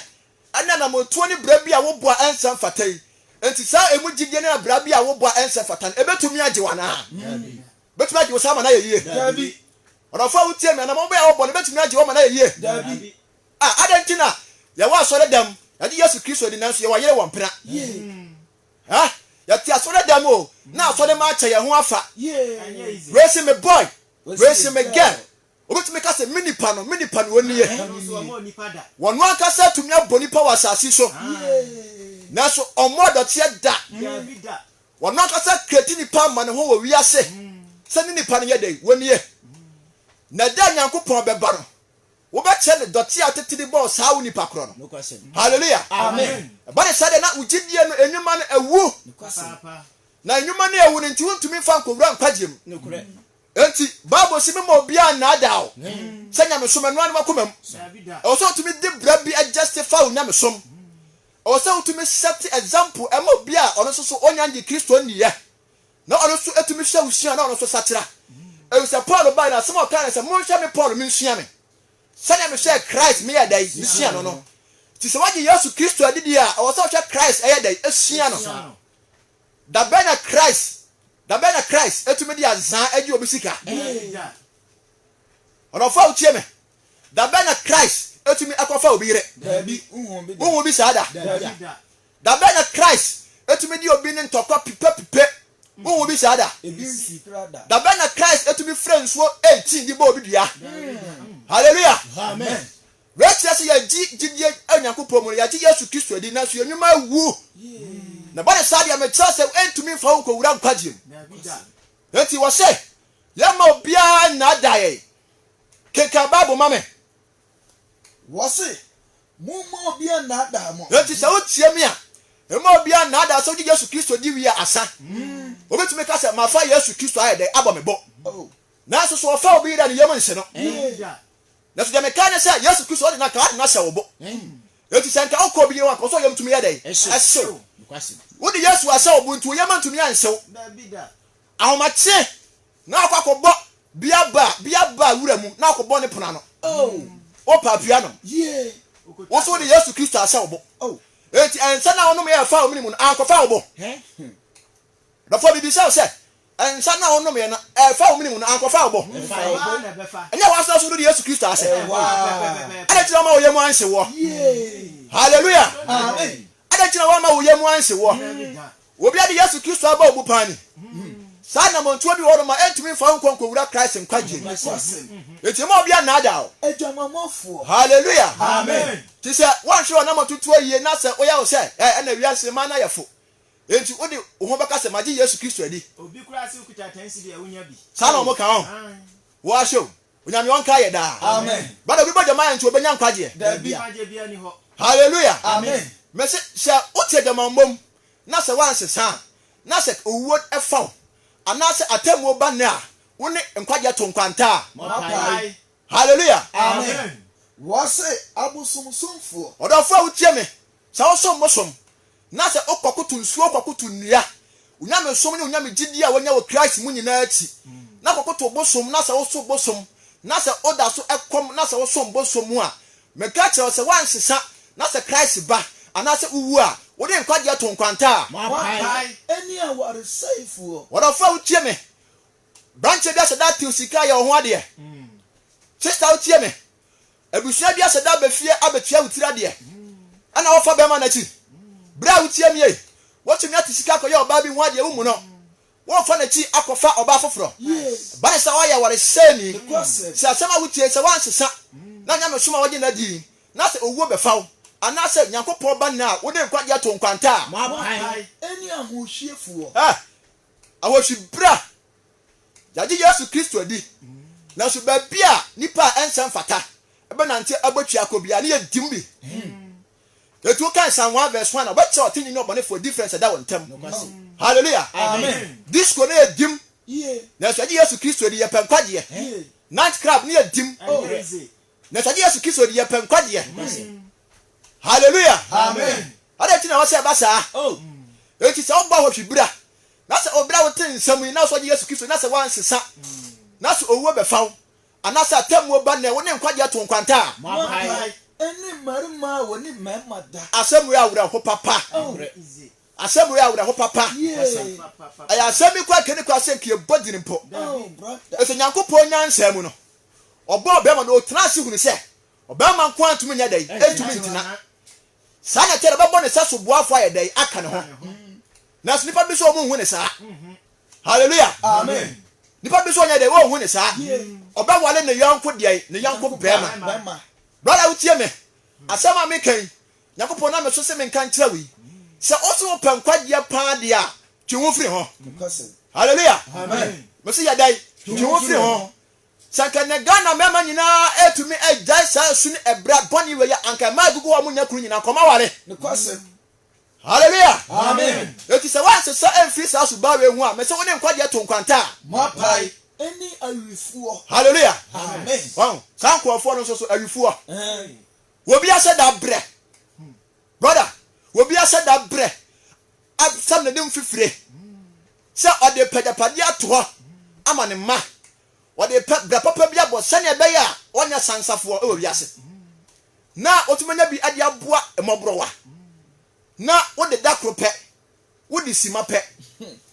ɛne anammɔntuo ne bra bi a wobɔ a ɛnsa mfata yi? Nti saa ɛmu gyidie ne abra bi a wobɔ a ɛnsa mfata no ɛbɛtumi agye wo anaa? Daabi. Obetumi agye wo saa ma no ayɛ yiye? Dabi. Ɔdɔfo a wutie me, anammɔn bɛn a wobɔ no betumi agye wo ama no ayɛ yiye? Dabi. A Adɛn nti na yɛwɔ asɔredam? Yɛagye Yesu Kristo adi, nanso yɛwɔ ayere wɔ mpena. Ɛ? Yɛte asɔredam o, na asɔremma akyɛ yɛn ho afa. Wei se me boy, wei se me girl. Wobɛtumi ka sɛ, Me nipa no, me nipa no, ɔnni yɛ. Wɔn ankasa tumi abɔ nnipa wɔ asase so, nanso wɔmmɔɔ dɔteɛ da. Wɔn ankasa kreti nnipa ama ne ho wɔ wiase sɛ ne nipa no yɛ dɛn? Ɔnni yɛ. Na ɛda a Nyankopɔn bɛba no, wobɛkyerɛ no dɔteɛ a tete de bɔɔ saa wo nipa korɔ no. Hallelujah! Ɛba ne saa deɛ na wo gyidie no nnwuma no awu. Na nnwuma no a awu no nti wontumi mfa nkɔwura nkwagyeɛ mu. Enti, Bible se, Memma obiara nnaadaa wo sɛ nyamesom anua ne w'akomam. Ɛwɔ sɛ wotumi de bra bi justify wo nyamesom. Ɛwɔ sɛ wotumi set example ma obi a ɔno nso so onnya nnye Kristo nniiɛ, na ɔno nso atumi hwɛ wo sua na ɔno nso sakyera. Efisɛ Paul bae no, asɛm a ɔkae ne sɛ, Monhwɛ me Paul, mensua me. Sɛnea mehwɛɛ Christ meyɛɛ dɛn? Mesuaa no no. Nti sɛ woagye Yesu Kristo adi deɛ a, ɛwɔ sɛ wohwɛ Christ ɛyɛ dɛn? Sua no. Da bɛn na Christ da bɛn na Christ atumi de ansaa agye obi sika? Ɔdɔfo a wotie me, da bɛn na Christ atumi akɔfa obi yere? Wohu bi saa da? Da bɛn na Christ atumi de obi ne ntɔkwa pipapipe? Wohu bi saa da? Da bɛn na Christ atumi frɛ nsuo 18 de bɔ obi dua? Hallelujah! Wei kyerɛ sɛ yɛgye gyidie wɔ Nyankopɔn mu no, yɛgye Yesu Kristo adi, nanso yɛn nnwuma awu. Na ɛba no saa deɛ, mekyerɛ sɛ ɛntumi mfa wo nkɔwura nkwagyeɛ mu. Enti wɔse yɛmma obiara nnaadaa yɛn. Kenkan Bible ma me. Wɔse, Momma obiara nnaadaa mo. Enti sɛ wotie me a, mma obiara nnaadaa wo. Sɛ wogye Yesu Kristo di wie a, asa. Wobɛtumi ka sɛ, Mafa Yesu Kristo ayɛ dɛn? Abɔ me bo. Nanso so wɔfa obi yera ne yam nhyɛ no? Nanso deɛ mekae ne sɛ Yesu Kristo ɔde n'akaa de no ahyɛ wo bo. Enti sɛ nka wokɔ bio a, nka wo sɛ wo yam tumi yɛ dɛn? Ɛhyew. Wode Yesu ahyɛ wo bo nti wo yam antumi anhyew. Ahomakye na wakɔ akɔbɔ bia ba bia ba wura mu na akɔbɔ ne pono ano. Wopɛ apia nom. Wo so wode Yesu Kristo ahyɛ wo bo. Enti ɛnsɛ na wonom yɛ ɛfa wo mene mu no ankɔfa wo bo. Dɔfo, mibisa wo sɛ, nsa no a wonomeeɛ no, ɛfa wo mene mu no ankɔfa wo bo? Ɛnyɛ hɔ asena so no de Yesu Kristo ase. Adɛn nti na wamma wo yam anhye woɔ? Haleluya! Adɛn nti na wamma wo yam anhye woɔ? Obi a ɔde Yesu Kristo abɔ obupan ni. Saa anammɔntuo bi wɔ hɔ nom a ɛntumi mfa wo nkɔ nkɔwura Christ nkwagyeɛ mu. Enti mma obi annaadaa wo. Haleluya! Te sɛ woanhwere w'anammɔntutuo yie na sɛ woyɛ wo sɛ, ɛɛ, ɛna wiase mmaa no ayɛ fo. Enti wode wo ho bɛka sɛ, Magye Yesu Kristo adi. Saa na wɔka ho. Wɔahyɛ o. Onyame ɔnkae yɛ daa. But obi bɔ gyama nti obenya nkwagyeɛ? Hallelujah! Mese, sɛ wote agyamammɔ mu na sɛ woansesa a, na sɛ owuo fa wo anaasɛ atemmuo ba nnɛ a, wo ne nkwagyeɛ to nkwanta a. Hallelujah! Ɔdɔfoɔ a wotie me, sɛ wosom bosom Na sɛ wokɔkoto nsuo kɔkoto nnua, wo nyamesom ne wo nyamegyedie a woanya wɔ Christ mu nyinaa akyi, na kɔkoto bosom, na sɛ woso bosom, na sɛ woda so kɔm, na sɛ wosom bosom a, meka kyerɛ wo sɛ woansesa, na sɛ Christ ba, anaasɛ wowu a, wode nkwagyeɛ to nkwanta a. Moapae ɛne awaresɛefoɔ. Ɔdɔfoɔ a wotie me, brankyɛ bi ahyɛ da atew sika ayɛ wo ho adeɛ. Sista wotie me, Abusua bi ahyɛ da aba fie abetua wo tiri adeɛ ɛna wɔfa bɛɛma no akyi. Berɛ a woteam yei, wotumi ate sika akɔyɛ ɔbaa bi ho adeɛ wommu no. Worefa n'akyi akɔfa ɔbaa foforɔ. Ɛba no sɛ woayɛ awaresɛeni. Sɛ asɛm a wotie yi, sɛ woansesa na nyamesom a wogye no adi na sɛ owuo bɛfa wo anaasɛ Nyankopɔn ba nna a wode nkwagyeɛ too nkwanta a, Moapae ɛne ahohwiefoɔ. Ɛ, ahohwi bra Yɛagye Yesu Kristo adi, nanso baabi a nnipa a ɛnsɛ mfata bɛnante abɔ twi akɔ biara no yɛ dim bi. Enti wokan Psalm 1 verse 1 a, wobɛkyerɛ ɔtreneeni ne ɔbɔnefoɔ difference a ɛda wɔn ntam. Hallelujah! Disco no yɛ dim, nanso yɛagye Yesu Kristo adi, yɛpɛ nkwagyeɛ. Night club no yɛ dim, nanso yɛagye Yesu Kristo adi, yɛpɛ nkwagyeɛ. Hallelujah! Adɛn nti na ɛwɔ sɛ ɛba saa? Enti sɛ wobɔ ahɔhwibra Na sɛ obi a wote nsɛm yi, na sɛ ɔgye Yesu Kristo di, na sɛ woansesa, na sɛ owuo bɛfa wo, anaa sɛ atɛmmuo ba nnɛ, wo ne nkwagyeɛ to nkwanta a. Moapae. Ɛne mmarima a wɔne mmarima da. Asɛm wei yɛ awerɛho papa. Asɛm wei yɛ awerɛho papa. Ɛyɛ asɛm bi koraa kani koraa sɛ nka yɛbɔ din mpo. Ɛsɛ Nyankopɔn nyansa mu no, ɔbɔɔ ɔbarima na ɔtenaa ase hunu sɛ ɔbarima nko ara ntumi nyɛ dɛn? Ntumi ntena. Saa na ɛte no, ɔbɛbɔ ne sɛ soboafo ayɛ dɛn aka ne ho. Nanso nnipa bi nso wɔn nhu ne saa. Hallelujah. Amen. Nnipa bi nso wɔnyɛ dɛn wɔn nhu ne saa. Ɔbɛwale ne yɔnko deɛ ne yɔnko bɛrima. Brada wotie me. Asɛm a meka yi, Nyankopɔn nam me so se menka nkyerɛ wo yi. Sɛ ose wopɛ nkwagyeɛ paa deɛ a, twe wo ho firi ho. Hallelujah. Amen. Mese yɛ dɛn? Twe wo ho firi ho. Sɛ anka nnɛ Ghana mmarima nyinaa atumi agyae saa su ne ɛbra bɔne wei a, anka mmaa agugu hɔ a wɔnnya kunu nyinaa kɔma aware. Nokwasɛm. Hallelujah! Amen! Enti sɛ woansesa amfiri saa suban wei ho a, mese wo ne nkwagyeɛ to nkwantaa. Moapae ne awifoɔ. Hallelujah! Amen! Wahu? Saa nkurɔfoɔ no nso so, awifoɔ. Wɔbi ahyɛ da brɛ. Brother, obi ahyɛ da brɛ asɛm ne de mfifire sɛ ɔde pɛ agyapadeɛ ato hɔ ama ne mma. Ɔde pɛ brɛ papa bi abɔ sɛnea ɛbɛyɛ a ɔnyɛ sansafoɔ wɔ wiase. Na wotumi anya bi de aboa mmɔborɔwa. Na wode da koro pɛ, wode sima pɛ.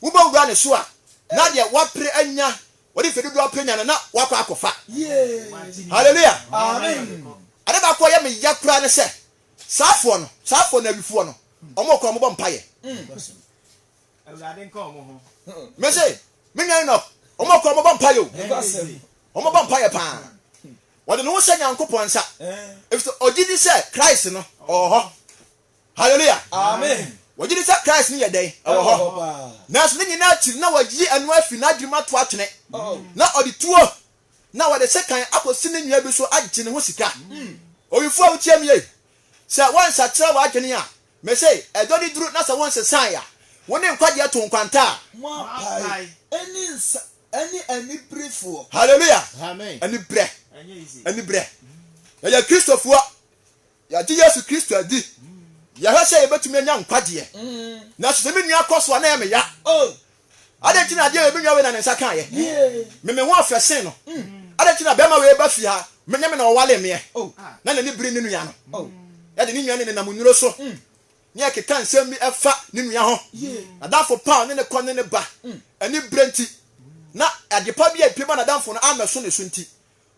Wobɛwura ne so a, na deɛ wapere anya, ɔde mfɛ dodoɔ apere anya no, na wakɔ akɔfa. Hallelujah. Amen. Ade baako a ɛyɛ me ya koraa ne sɛ, Saa foɔ no, saa foɔ no awifoɔ no, ɔmo kɔ ɔmo bɔ mpaeɛ. Mese, me nua Enoch, ɔmo kɔ ɔmo bɔ mpaeɛ o. Ɔmo bɔ mpaeɛ paa. Wɔde ne ho hyɛ Nyankopɔn nsa. Efisɛ ɔgye di sɛ Christ no ɔwɔ hɔ. Hallelujah. Amen. Wɔgye di sɛ Christ no yɛ dɛn? Ɛwɔ hɔ. Nanso ne nyinaa akyiri na wɔayi ɛno afi n'adwenem ato atwene. Na ɔde tuo na wɔde sekan akosi ne nua bi so agye ne ho sika. Owifo a wutiam yei, sɛ woansakyera w'adwene a, mise, ɛdɔ ne duru na sɛ wonsesae a, wo ne nkwagyeɛ to nkwanta a. Moapae ɛne nsa ɛne aniberefoɔ. Hallelujah! Amen. Aniberɛ, aniberɛ. Yɛyɛ Kristofoɔ. Yɛagye Yesu Kristo adi. Yɛhwɛ sɛ yɛbɛtumi anya nkwagyeɛ. Nanso sɛ me nua kɔ so a, na ɛyɛ me ya. Adɛn nti na adeɛ wei me nua wei na ne nsa kaeɛ? Me me ho ɔfɛ sen no. Adɛn nti na bɛrima wei ba fie ha, me ne me na ɔwale meɛ? Na n'ani bere ne nua no. Yɛde ne nua no nenam nnuro so ne ɛkeka nsɛm bi ɛfa ne nua ho. N'adamfo pa a ɔne ne kɔ ne ne ba. Ani bere nti na adepa bi a ɛpue ba n'adamfo no ammɛso ne so nti,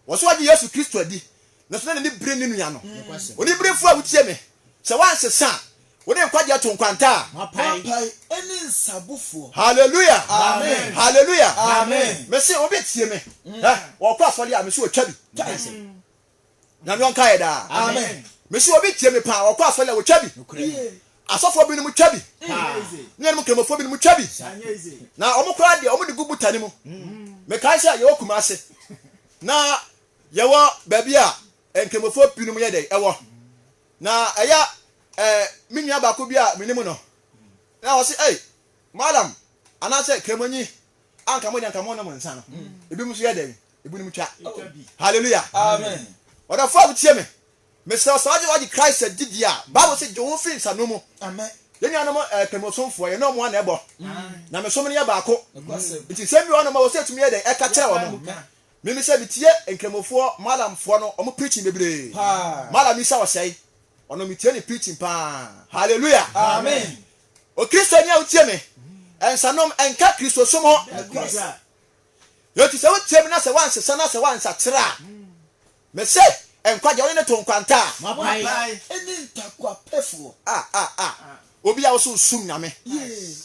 Wɔsi ɔgye Yesu Kristo adi, nanso na n'ani bere ne nua no. Oniberefo a wutie me, sɛ woansesa a, wo de nkwagye ato nkwanta a. Moapae ne nsabofoɔ. Hallelujah! Amen! Hallelujah! Amen! Mese obi tie me, hɛ, ɔkɔ asɔre a, mese ɔtwa bi. Kyɛe sɛ. Nyame ɔnkaɛ daa. Amen! Mese obi tie me paa, ɔkɔ asɔre a, ɔtwa bi. Nokorɛ ni. Asɔfoɔ binom twa bi, ne yɛnom Nkramofoɔ binom twa bi, na wɔn koraa deɛ wɔde gu butane mu. Mekae sɛ yɛwɔ Kumase, na yɛwɔ baabi a Nkramofoɔ binom yɛ dɛ ɛwɔ, na ɛyɛ ɛɛ me nua baako bi a menim no, na ɔse ei malam anaasɛ kramonyi anka mo deɛ anka mo nom nsa no, ebinom nso yɛ dɛn, ebinom twa. Hallelujah. Amen. Ɔdɔfoɔ a wotie me. Mesrɛ sɛ ɔde ɔde Christ adi deɛ a, Bible se gye wo ho firi nsano mu. Amen. Yɛn nuanom eh, Twam ɔsomfoɔ, yɛne wɔn ana ɛbɔ. Nyamesom no yɛ baako. Nti nsɛm bi wɔ hɔ nom a wɔ sɛ yɛtumi yɛ dɛn ɛka kyerɛ wɔn. Mimi sɛ metie Nkramofoɔ, Malamfoɔ no, wɔn preaching bebree. Malam Isa Ɔsɛe, ɔno metie ne preaching paa. Hallelujah. Amen. O Kristoni a wotie me, nsanom ɛnka Kristosom ho. Enti sɛ wotie me na sɛ woansesa na sɛ woansakyera a, Mese, Nkwagye, Ɔne ne to nkwanta a. Moapae, ɛne ntakoapɛfoɔ. Ah, ah, ah, obi a wose wosum Nyame.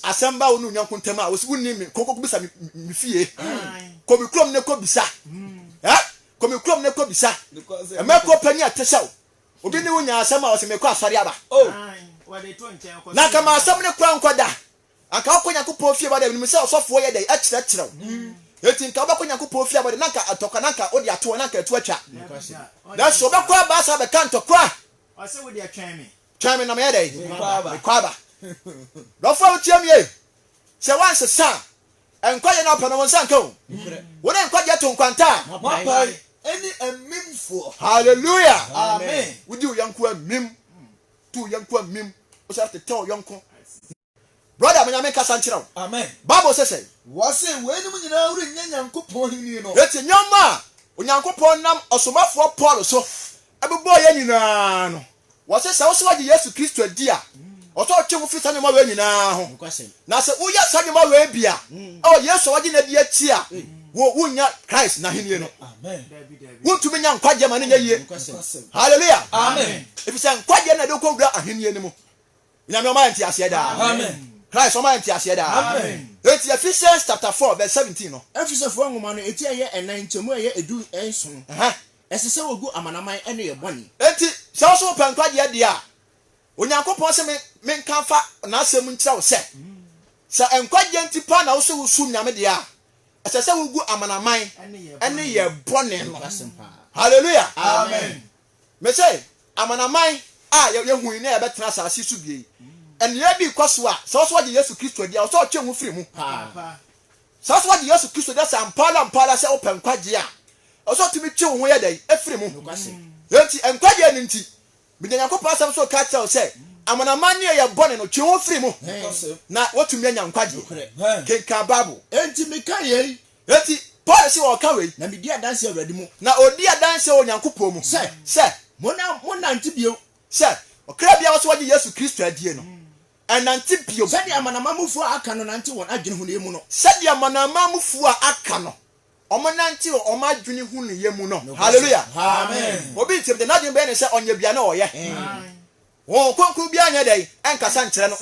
Asɛm ba wo ne onyanko ntam a, wose wonni me, kɔ kɔbisa me, me fie. Kɔ me kurom ne kɔ bisa. Eh? Kɔ me kurom ne kɔ bisa. Mɛkɔ pɛ ne atɛhyɛ o. Obi ne wo nya asɛm a, ɔse mekɔ asɔre aba. Oh, na nka m'asɛm ne kora nkɔ da. Anka wokɔ Nyankopɔn fie ba dɛ minim sɛ ɔsɔfoɔ yɛ dɛn ɛkyerɛkyerɛ wo enti nka wobɛkɔ Nyankopɔn fie abɔ dɛ na anka ntɔkwa na anka wode ato hɔ na anka atu atwa nanso wobɛkɔ aba asa abɛka ntɔkwa a ɔse wodeɛ twɛn me twɛn me na meyɛ dɛn mekɔ aba dɔfoɔ a wotie me ei sɛ woansesa a nkwagyeɛ na wopɛ no wo nsa nka o wo ne nkwagyeɛ to nkwanta a moapae ɛne amimfoɔ hallelujah amen wodi wo yɔnkoa mim too yɛn nkoa mmim, wosan tetɛ wo yɔnko. Brɔda, ma Nyame nkasa nkyerɛ wo. Amen. Bible se sɛn? Wɔse, Weinom nyinaa rennya Nyankopɔn ahenni no. Enti nneɛma a Onyankopɔn nam ɔsomafoɔ Paul so bobɔɔ yɛn nyinaa no, wɔse sɛ wo nso woagye Yesu Kristo adi a, ɔsɛ ɔtwe wo firi saa nneɛma wei nyinaa ho. Nokwasɛm. Na sɛ woyɛ saa nneɛma wei bi a, ɛwɔ Yesu a wagye no adi akyi a, wo wonnya Christ n'ahenni no. Wontumi nya nkwagyeɛ ma no nyɛ yie. Hallelujah. Ɛfiri sɛ nkwagyeɛ na ɛde kɔwura ahenni no mu. Nyame ɔma yɛ nteaseɛ daa. Christ ɔma yɛ nteaseɛ daa. Enti Ephesians chapter 4 verse 17 no. Efesofoɔ nwoma no eti a ɛyɛ ɛnan nkyɛmu a ɛyɛ edu nson. Ɛsɛ sɛ wɔgu amanaman nneyɛɛ bɔne. Enti sɛ wo nso wopɛ nkwagyeɛ deɛ a, Onyankopɔn se me menka mfa N'asɛm nkyerɛ wo sɛ, sɛ nkwagyeɛ nti paa na wose wosom Nyame deɛ a, ɛsɛ sɛ wogu amanaman ne yɛ bɔne no. Hallelujah! Amen! Mese, amanaman a yɛhui na yɛbɛtena asase so bie yi, nneɛ bi kɔ so a, sɛ ɔso wagye Yesu Kristo adi a, ɔsɛ ɔtwe ho firi mu. Sɛ ɔso wagye Yesu Kristo adi sɛ ampaara ampaara sɛ wopɛ nkwagyeɛ a, ɔsɛ ɔtumi twe wo ho yɛ dɛn? Efiri mu. Enti nkwagyeɛ no nti, Mede Onyankopɔn Asɛm nso reka akyerɛ wo sɛ, amanaman nneyɛeɛ bɔne no, twe wo ho firi mu, na woatumi anya nkwagyeɛ. Kenkan Bible. Enti meka yei. Enti Paul se ɔreka wei. Na medi adanse Awurade mu. Na ɔdi adanse wɔ Onyankopɔn mu. Sɛ. Sɛ. Monna, monnante bio. Sɛ, ɔkra biara a ɔse wagye Yesu Kristo adie no, ɛnnante bio. Sɛdeɛ amanaman mufoɔ a aka no nante wɔn adwene hunuiɛ mu no. Sɛdeɛ amanaman mufoɔ a aka no. wɔnante wɔ wɔn adwene hunuyɛ mu no. Hallelujah! Obi ntem de, n'adwene bɛyɛ no sɛ ɔnyɛ bia na ɔyɛ. Honhom Kronkron biara nyɛ dɛn? Ɛnkasa nkyerɛ no,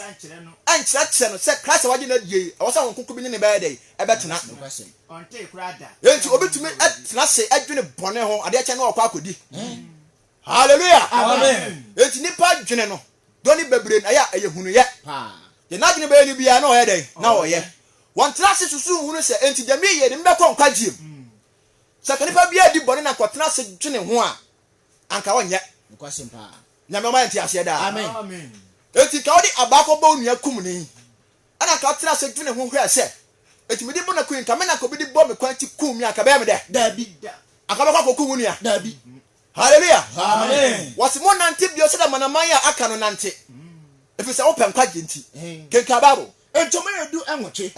ɛnkyerɛkyerɛ no sɛ Christ a wagye no adie yi, ɛwɔ sɛ Honhom Kronkron bi ne no bɛyɛ dɛn? Ɛbɛtena. Enti obetumi atena ase adwene bɔne ho adeɛ kyɛ na ɔkɔ akɔdi. Hallelujah! Amen! Enti nipa dwene no dɔ ne bebree na ɛyɛ a ɛyɛ hunuyɛ. Deɛ n'adwene bɛyɛ no biara na ɔyɛ dɛn? Na ɔyɛ. Wɔntra ase susu nhunu sɛ enti deɛ meyɛ no mebɛkɔ nkwagyeɛ mu. Sɛ anka nipa biara di bɔne na kɔtena ase dwene ho a, anka ɔnyɛ. Nyame ɔma yɛ nte aseɛ daa. Enti nka wode abaa kɔbɔ wo nua kum ni ɛna nka wotena ase dwene ho hwɛ sɛ enti mede bɔ na kui nka me na nka obi de bɔ me kwan ti kum me anka bɛyɛ me dɛ. Daabi da. Anka bɛkɔ akɔku wo nua. Daabi. Hallelujah! Wɔse monnante bio sɛdeɛ amanaman a aka no nante, ɛfiri sɛ wopɛ nkwagyeɛ nti. Kenkan Bible. Ntoma edu nwɔtwe,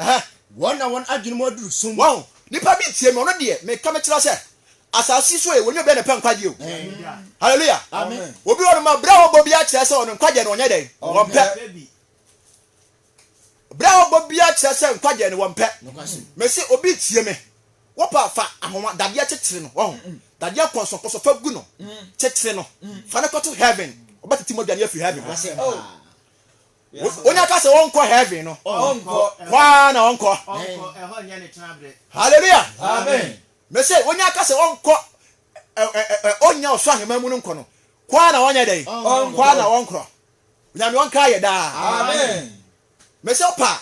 wɔn na wɔn adwene mu aduru sum. Wahu? Nnipa bi ntie me, ɔno deɛ meka mekyerɛ sɛ, asase yi so ɛ, wɔnyɛ obiara na ɛpɛ nkwagyeɛ o. Hallelujah! Obi wɔ hɔnom a, berɛ a ɔbɔ obiara kyerɛ sɛ ɔno nkwagyeɛ no ɔnyɛ dɛn? Ɔmpɛ. Bere a ɔbɔ biara kyerɛ sɛ nkwagye no wɔmpɛ. Mese obi tie me. Wopɛ a, fa ahoma dadeɛ kyekyere no. Wahu? Dadeɛ nkɔnsɔnkɔnsɔ, fa gu no. Kyekyere no. Fa no kɔto heaven. Ɔbɛtete mogya no afiri heaven hɔ. Wonya ka sɛ ɔnkɔ heaven no, kɔ ara na ɔnkɔ. Hallelujah. Amen. Mese wonya ka sɛ ɔnkɔ ɔnya ɔsoro ahemman mu no nkɔ no, kɔ ara na ɔnyɛ dɛn? Kɔ ara na ɔnkɔ. Onyame ɔnkaa yɛ daa. Amen. Mese wo paa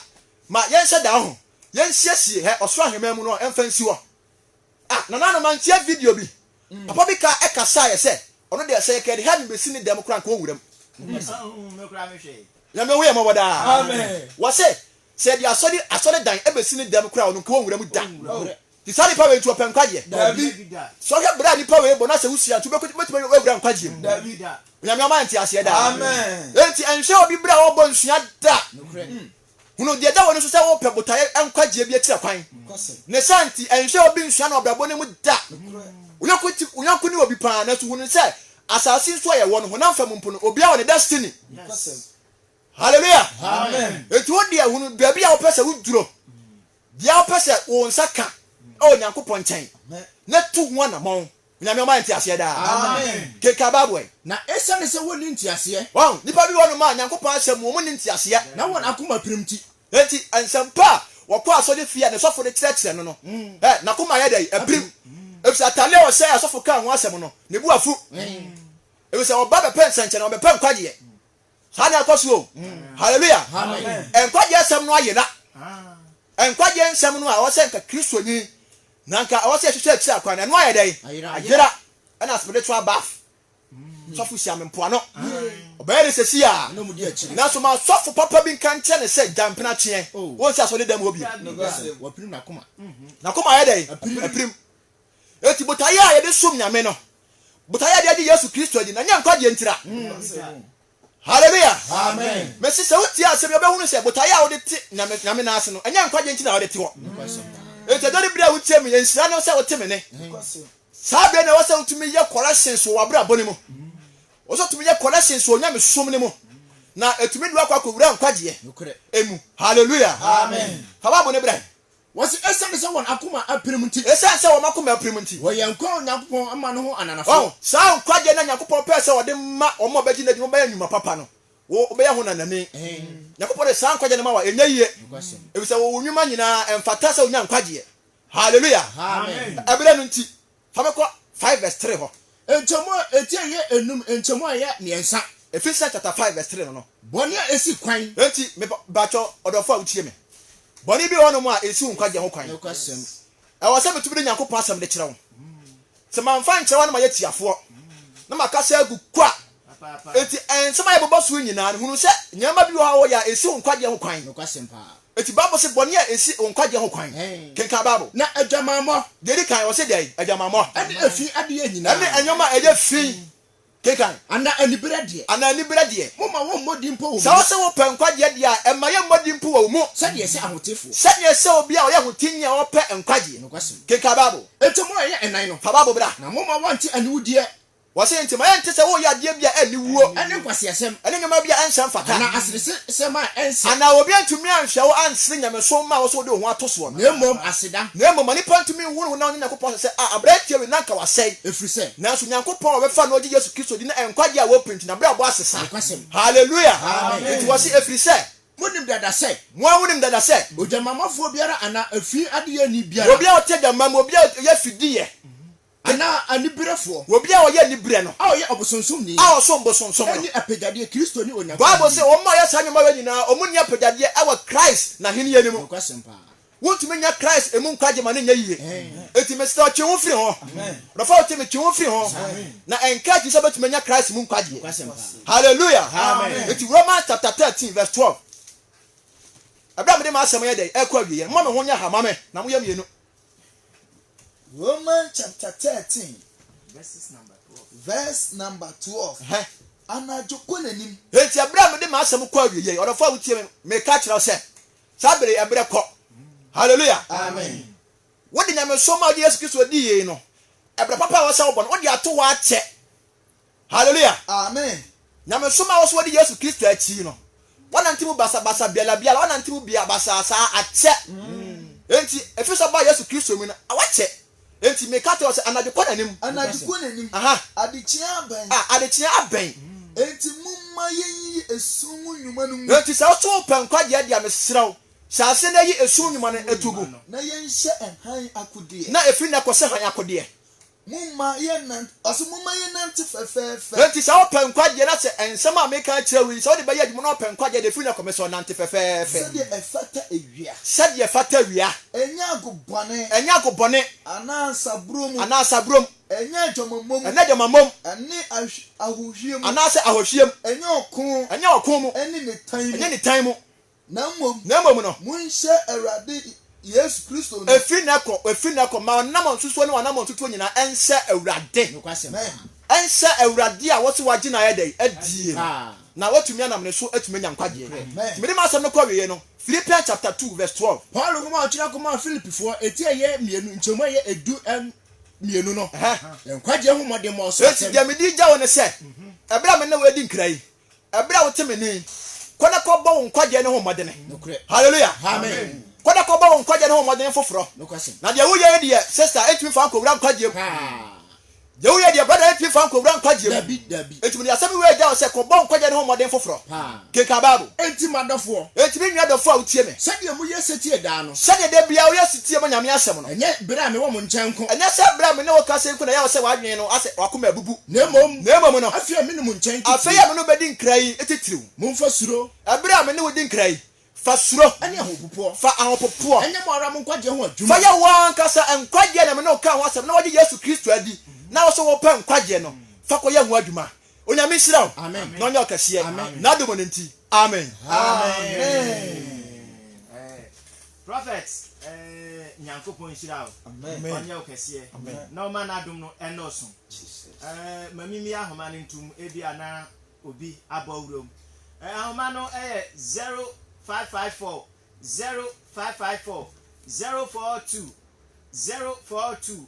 ma yɛnhyɛ da ho yɛnsiesie hɛ ɔsoro aheman mu no ɛmfa nsi hɔ ah nananom mantie video bi papa bi kaa ɛkasaeɛ sɛ ɔno deɛ sɛ yɛkɛde heaven bɛsi ne dɛm koraa nka ɔnwuram Nyame hu yɛ mmɔbɔ daa Amen. wɔse sɛ yɛde asɔre asɔre dan ɛbɛsi ne dɛm koraa ɔno nka ɔnwuram da. Nti saa nipa wei nti ɔpɛ nkwagyeɛ? Daabi. Sɛ wohwɛ bra a nipa wei bɔ na sɛ wosua nti wobɛkɔ wobɛtumi awura nkwagyeɛ mu? Daabi. Onyame ɔma yɛn nteaseɛ daa. Amen. Enti nhwɛ obi bra a ɔbɔ nsua da. Nokorɛ. Hunu deɛ ɛda w'ani so sɛ wopɛ botaeɛ nkwagyeɛ bi akyirɛ kwan. Kwase. Ne saa nti nhwɛ obi nsua no abrabɔ no mu da. Nokorɛ. Wo yɔnko ti wo yɔnko ne obi paa nanso hunu sɛ asaase yi so a yɛwɔ no honam fam mpo no obiara wɔ ne destiny. Nokwasɛm. Hallelujah. Amen. Enti wo deɛ hunu baabi a wopɛ sɛ woduro. Deɛ wopɛ sɛ wo nsa ka wɔ Nyankopɔn nkyɛn na tu ho anamɔn. Onyame ɔma yɛn nteaseɛ daa. Kenkan Bible ɛ. Na esiane sɛ wɔnni nteaseɛ. Wahu? Nnipa bi wɔ nom a Nyankopɔn asɛm mu wɔn nni nteaseɛ. Na wɔn akoma pirim ti. Enti nsɛmpa a wɔkɔ asɔre fie a ne sɔfo de kyerɛkyerɛ no no ɛ, n'akoma yɛ dɛn? Ɛpirim. Efisɛ atadeɛ a ɔhyɛ a sɔfo kaa ho asɛm no, ne bo afu. Efisɛ wɔba bɛpɛ nsɛnkyerɛnne, wɔbɛpɛ nkwagyeɛ. Saa na ɛkɔ so o. Hallelujah. Nkwagye asɛm no ayera. Nkwagye nsɛm no a ɛwɔ sɛ nka Kristoni na nka ɛwɔ sɛ ɛhwehwɛ akyiri akwan no, ɛno ayɛ dɛn? Ayera. Ɛna spiritual bath. Sɔfo hyia me mpoano. Ɔbɛyɛ no sɛsi a. Nanso ma sɔfo papa bi nka nkyerɛ no sɛ gya mpenatweɛ. Wonsi asɔre dan mu hɔ bio. N'akoma ayɛ dɛn? Apirim. Enti botaeɛ a yɛde som Nyame no, botaeɛ a yɛde agye Yesu Kristo adi no, ɛnyɛ nkwagyeɛ ntira. Hallelujah! Mese sɛ wotie asɛm yi, wobɛhunu sɛ botaeɛ a wode te Nyame, Nyame nan ase no, ɛnyɛ nkwagyeɛ nti na wode te hɔ. Enti ɛdɔ ne bere a wotie me, nhyira ne sɛ wote me nne. Saa bere na ɛwɔ sɛ wotumi yɛ corrections wɔ w'abrabɔ no mu. Ɛwɔ sɛ wotumi yɛ corrections wɔ nyamesom no mu, na ɛtumi de wakɔ akɔwura nkwagyeɛ mu. Hallelujah! Fa Bible no bra yi. Wɔse esiane sɛ wɔn akoma apirim nti. Esiane sɛ wɔn akoma apirim nti. Wɔyɛ nkoa a Onyankopɔn ama no ho ananafo. Ɔho, saa nkwagyeɛ no a Nyankopɔn pɛɛ sɛ ɔde ma wɔn a wɔbɛgye no adi no bɛyɛ nwuma papa no, wo, wobɛyɛ ho nanani. Nyankopɔn de saa nkwagyeɛ no ma wo a, ɛnyɛ yie. Efisɛ wo, wo nwuma nyinaa, ɛmfata sɛ wonya nkwagyeɛ. Hallelujah! Amen! Ɛberɛ no nti. Fa me kɔ five verse three hɔ. Nkyɛmu a eti a ɛyɛ enum, nkyɛmu a ɛyɛ mmiɛnsa. Ephesians chapter five verse three no no, bɔne a esi kwan. Enti me ba, bakyɛ ɔdɔfo a wotie me, bɔne bi wɔ hɔnom a esi wo nkwagyeɛ ho kwan. Nokwasɛm. Ɛwɔ sɛ metumi de Nyankopɔn asɛm de kyerɛ wo. Sɛ mamfa ankyerɛ wo a na mayɛ tiafoɔ, na makasa agu kwa. Enti nsɛm a yɛbobɔ so yi nyinaa no, hunu sɛ nneɛma bi wɔ hɔ a wɔyɛ a esi wo nkwagyeɛ ho kwan. Nokwasɛm paa. Enti Bible se bɔne a ensi nkwagye ho kwan. Kenkan Bible. Na adwamammɔ, deɛ edi kan, ɔse dɛn? Adwamammɔ. Ɛne efi adeɛ nyinaa. Ɛne nneɛma a ɛyɛ fi. Kenkan. Anaa aniberɛ deɛ. Anaa aniberɛ deɛ. Momma wɔmmɔ din mpo wɔ mo mu. Sɛ wose wopɛ nkwagyeɛ deɛ a, ɛmma yɛmmɔ din mpo wɔ wo mu. Sɛdeɛ ɛsɛ ahotefoɔ. Sɛdeɛ ɛsɛ obi a ɔyɛ ahoteeni a ɔpɛ nkwagyeɛ. Nokwasɛm. Kenkan Bible. Enti mo a ɛyɛ ɛnan no. Fa Bible bra. Na momma wɔnte aniwudeɛ Wɔse nti ma yɛnte sɛ woreyɛ adeɛ bi a ɛnni wuo. Ɛne nkwaseasɛm. Ɛne nneɛma bi a ɛnhyɛ mfata. Anaa aseresɛm a ɛnsɛ. Anaa obi antumi anhwɛ wo ansere nyamesom mma a wɔ sɛ wode wo ho ato soɔ no. Na mmom aseda. Na mmom ma nipa ntumi nhu ne ho na ɔnyɛ Nyankopɔn asɛ sɛ, a aberanteɛ wei na anka wasɛe. Ɛfiri sɛ. Nanso Nyankopɔn a wɔbɛfa no ɔgye Yesu Kristo di no a nkwagyeɛ a wɔpɛ nti n'abrabɔ asesa. Nokwasɛm. Hallelujah! Amen. Enti wɔse ɛfiri sɛ. Monim dada sɛ. Mo ara monim dada sɛ. Ogyamammafoɔ biara anaa afii adeyɛni biara. Obi a ɔte agyamma mu, obi a ɔyɛ afideyɛ. Anaa aniberefoɔ. Obi a ɔyɛ aniberɛ no. A ɔyɛ ɔbosonsomni. A ɔsom bosonsom no. Nni apɛgyadeɛ, Kristo ne Onyankopɔn Bible se, wɔn a wɔyɛ saa nneɛma wei nyinaa, wɔnni apɛgyadeɛ wɔ Christ n'ahennie no mu. Nokwasɛm paa. Wontumi nnya Christ mu nkwagye ma no nyɛ yiye. Enti mesrɛ wo, twe wo firi ho. Ɔdɔfo a wotie me, twe wo firi ho. Na ɛnka akyi sɛ wobɛtumi anya Christ mu nkwagyeɛ. Nokwasɛm paa. Hallelujah! Amen. Enti Romans chapter thirteen verse twelve, Ɛberɛ a mede m'asɛm yɛ dɛn? Ɛrekɔ awieɛ. Momma me ho nyɛ ha mma me, na moyɛ mmienu. Romans chapter thirteen verse number twelve. Verse number twelve. Hɛ. Anadwo kɔ n'anim. Eti ɛbrɛ a mede m'asɛm kɔ awie yɛ ɔdɔfo a wotie me meka kyerɛ wo sɛ saa bere yi ɛbrɛ kɔ. Hallelujah. Amen. Wode nyamesom a wode Yesu Kristo di yei no, ɛbrɛ papa a wɔsɛ wo bɔ no, wode ato hɔ akyɛ. Hallelujah! Amen! Nyamesom a wɔsoma di Yesu Kristo akyi no, wɔnante mu basabasa biara biara, wɔnante mu bia basaa saa, akyɛ. Enti, ɛfiri sɛ ɔbaa Yesu Kristo mu no, wakyɛ. Enti meka kyerɛ wo sɛ, anadwo kɔ n'anim. Anadwo kɔ n'anim. Aha. Adekyeɛ abɛn. Ah, adekyeɛ abɛn. Enti momma yɛnyiyi esum mu nnwuma no ngu. Enti sɛ wo nso wopɛ nkwagyeɛ deɛ a, mesrɛ wo, hyɛ aseɛ na yi esum nnwuma no to gu. Na yɛnhyɛ hann akodeɛ. Na ɛfiri nnɛ kɔsi hann akodeɛ. Momma yɛnnan, ɔse momma yɛnnante fɛfɛɛfɛ. Enti sɛ wopɛ nkwagyeɛ na sɛ nsɛm a meka akyerɛ wo yi, sɛ wode bɛyɛ adwuma na wopɛ nkwagyeɛ deɛ, firi na kɔ me so, nante fɛfɛɛfɛ. Sɛdeɛ ɛfata awia. Sɛdeɛ ɛfata awia. Ɛnyɛ ago bɔne. Ɛnyɛ ago bɔne. Anaa nsaburo mu. Anaa nsaburo mu. Ɛnyɛ adwamammɔ mu. Ɛnyɛ adwamammɔ mu. Ɛne ahohwie mu. Anaasɛ ahohwie mu. Ɛnyɛ ɔko. Ɛnyɛ ɔko mu. Ɛne nitan mu. Ɛnyɛ nitan mu. Na mmom, Na mmom no, monhyɛ Awurade Yesu Kristo no. ɛfiri nnɛ kɔ, ɛfiri nnɛ kɔ, ma ɔnam nsusuo ne w'anammɔn tutuo nyinaa nhyɛ Awurade, nokwasɛm no, nhyɛ Awurade a wɔse wagye no ayɛ dɛn? adie no, na watumi anam ne so atumi anya nkwagyeɛ. Nti mede m'asɛm no kɔwieɛ no, Philippians chapter two verse twelve. Paulo nwoma a ɔtwerɛ kɔmaa Filipifoɔ eti a ɛyɛ mmienu, nkyɛmu a ɛyɛ edu mmienu no, Ɛhɛ. yɛ nkwagyeɛ ho mmɔdemmɔ so Enti asɛm. deɛ mede regya wo ne sɛ, ɛberɛ a me ne wo redi nkra yi, Ɛberɛ a wote me nne yi, kɔ na kɔbɔ wo nkwagyeɛ no ho mmɔdene. Hallelujah. Amen. Kɔ na kɔbɔ wo nkwagyeɛ no ho mmɔdene foforɔ. Na deɛ woyɛ yi deɛ, sister, ɛntumi fa nkɔwura nkwagyeɛ mu. Deɛ woyɛ deɛ, brother, ɛntumi fa nkɔwura nkwagyeɛ mu. Enti mede asɛm wei agya wo sɛ, kɔbɔ nkwagyeɛ no ho mmɔdene foforɔ. Kenkan Bible. Enti m'adɔfoɔ. Enti me nua dɔfoɔ a wotie me. Sɛdeɛ moyɛ setie daa no. Sɛdeɛ da biara woyɛ setie ma Nyame asɛm no. Ɛnyɛ berɛ a mewɔ mo nkyɛn nko. Ɛnyɛ sɛ berɛ a me ne wo kasa yi nko na ɛyɛ wo sɛ w'adwene no asɛ, w'akoma abubu. Na mmom. Na mmom no. Afei a me ne mo nkyɛn titiriw. Afei a me ne wo bɛdi nkra yi titiriw. Momfa suro. Bere a me ne wo di nkra yi, fa suro. Ne ahopopoɔ. Fa ahopopoɔ. Nyɛ mo ara mo nkwagyeɛ ho adwuma. Fa yɛ wo ankasa nkwagyeɛ na me ne wo kaa ho asɛm na woagye Yesu Kristo adi na wo nso wopɛ nkwagyeɛ no, fa kɔyɛ ho adwuma. Onyame nhyira wo na ɔnyɛ wo kɛseɛ n'adom no nti. Amen. Amen. Prophet eh Nyankopɔn nhyira wo, Amen. ɔnyɛ wo kɛseɛ Amen. na ɔma n'adom no ɛnnɔɔso. Jesus. Eh, ma mimi ahoma no ntom, ebia na obi abɔ wuram. Eh, ahoma no ɛyɛ 0554 0554 042 042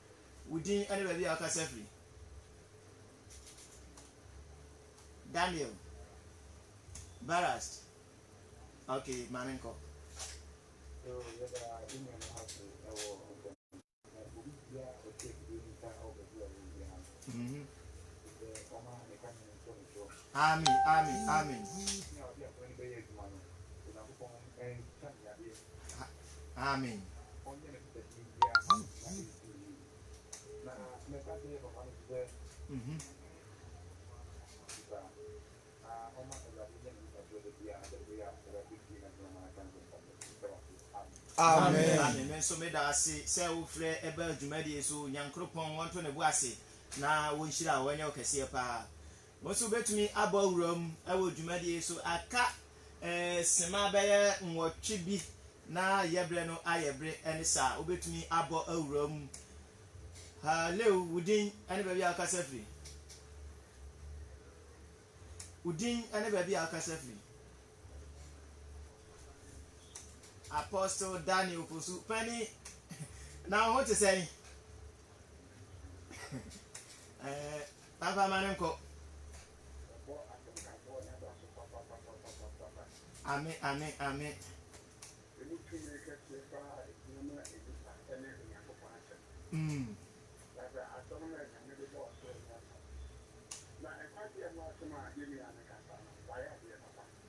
Wo din ne baabi a wokasa firi. Daniel. Barast. Ok, ma me nkɔ. Mhm. Amen, amen, amen. Amen. Amen. Amen. Me nso meda ase sɛ wofrɛ ɛbɛ adwumadie so nyankoropɔn wɔnto ne bo ase na wɔnhyira a wɔnyɛ ɔkɛseɛ paa Wo nso wubetumi abɔ wuram wɔ dwumadi yi so aka sima bɛyɛ nwɔtwe bi na yɛ bere no ayɛ bere. Ɛne saa. Wubetumi abɔ wuram. Halew! Wo din ne baabi a wokasa firi. Wo din ne baabi a wokasa firi. Apostle Daniel Posu, pani, na wo ho te sɛn? Eh, Papa ma no nkɔ. Ame ame ame. Mm.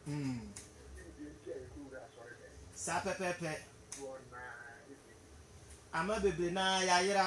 Mm. Saa pɛpɛɛpɛ. Ama bebree naa yayera.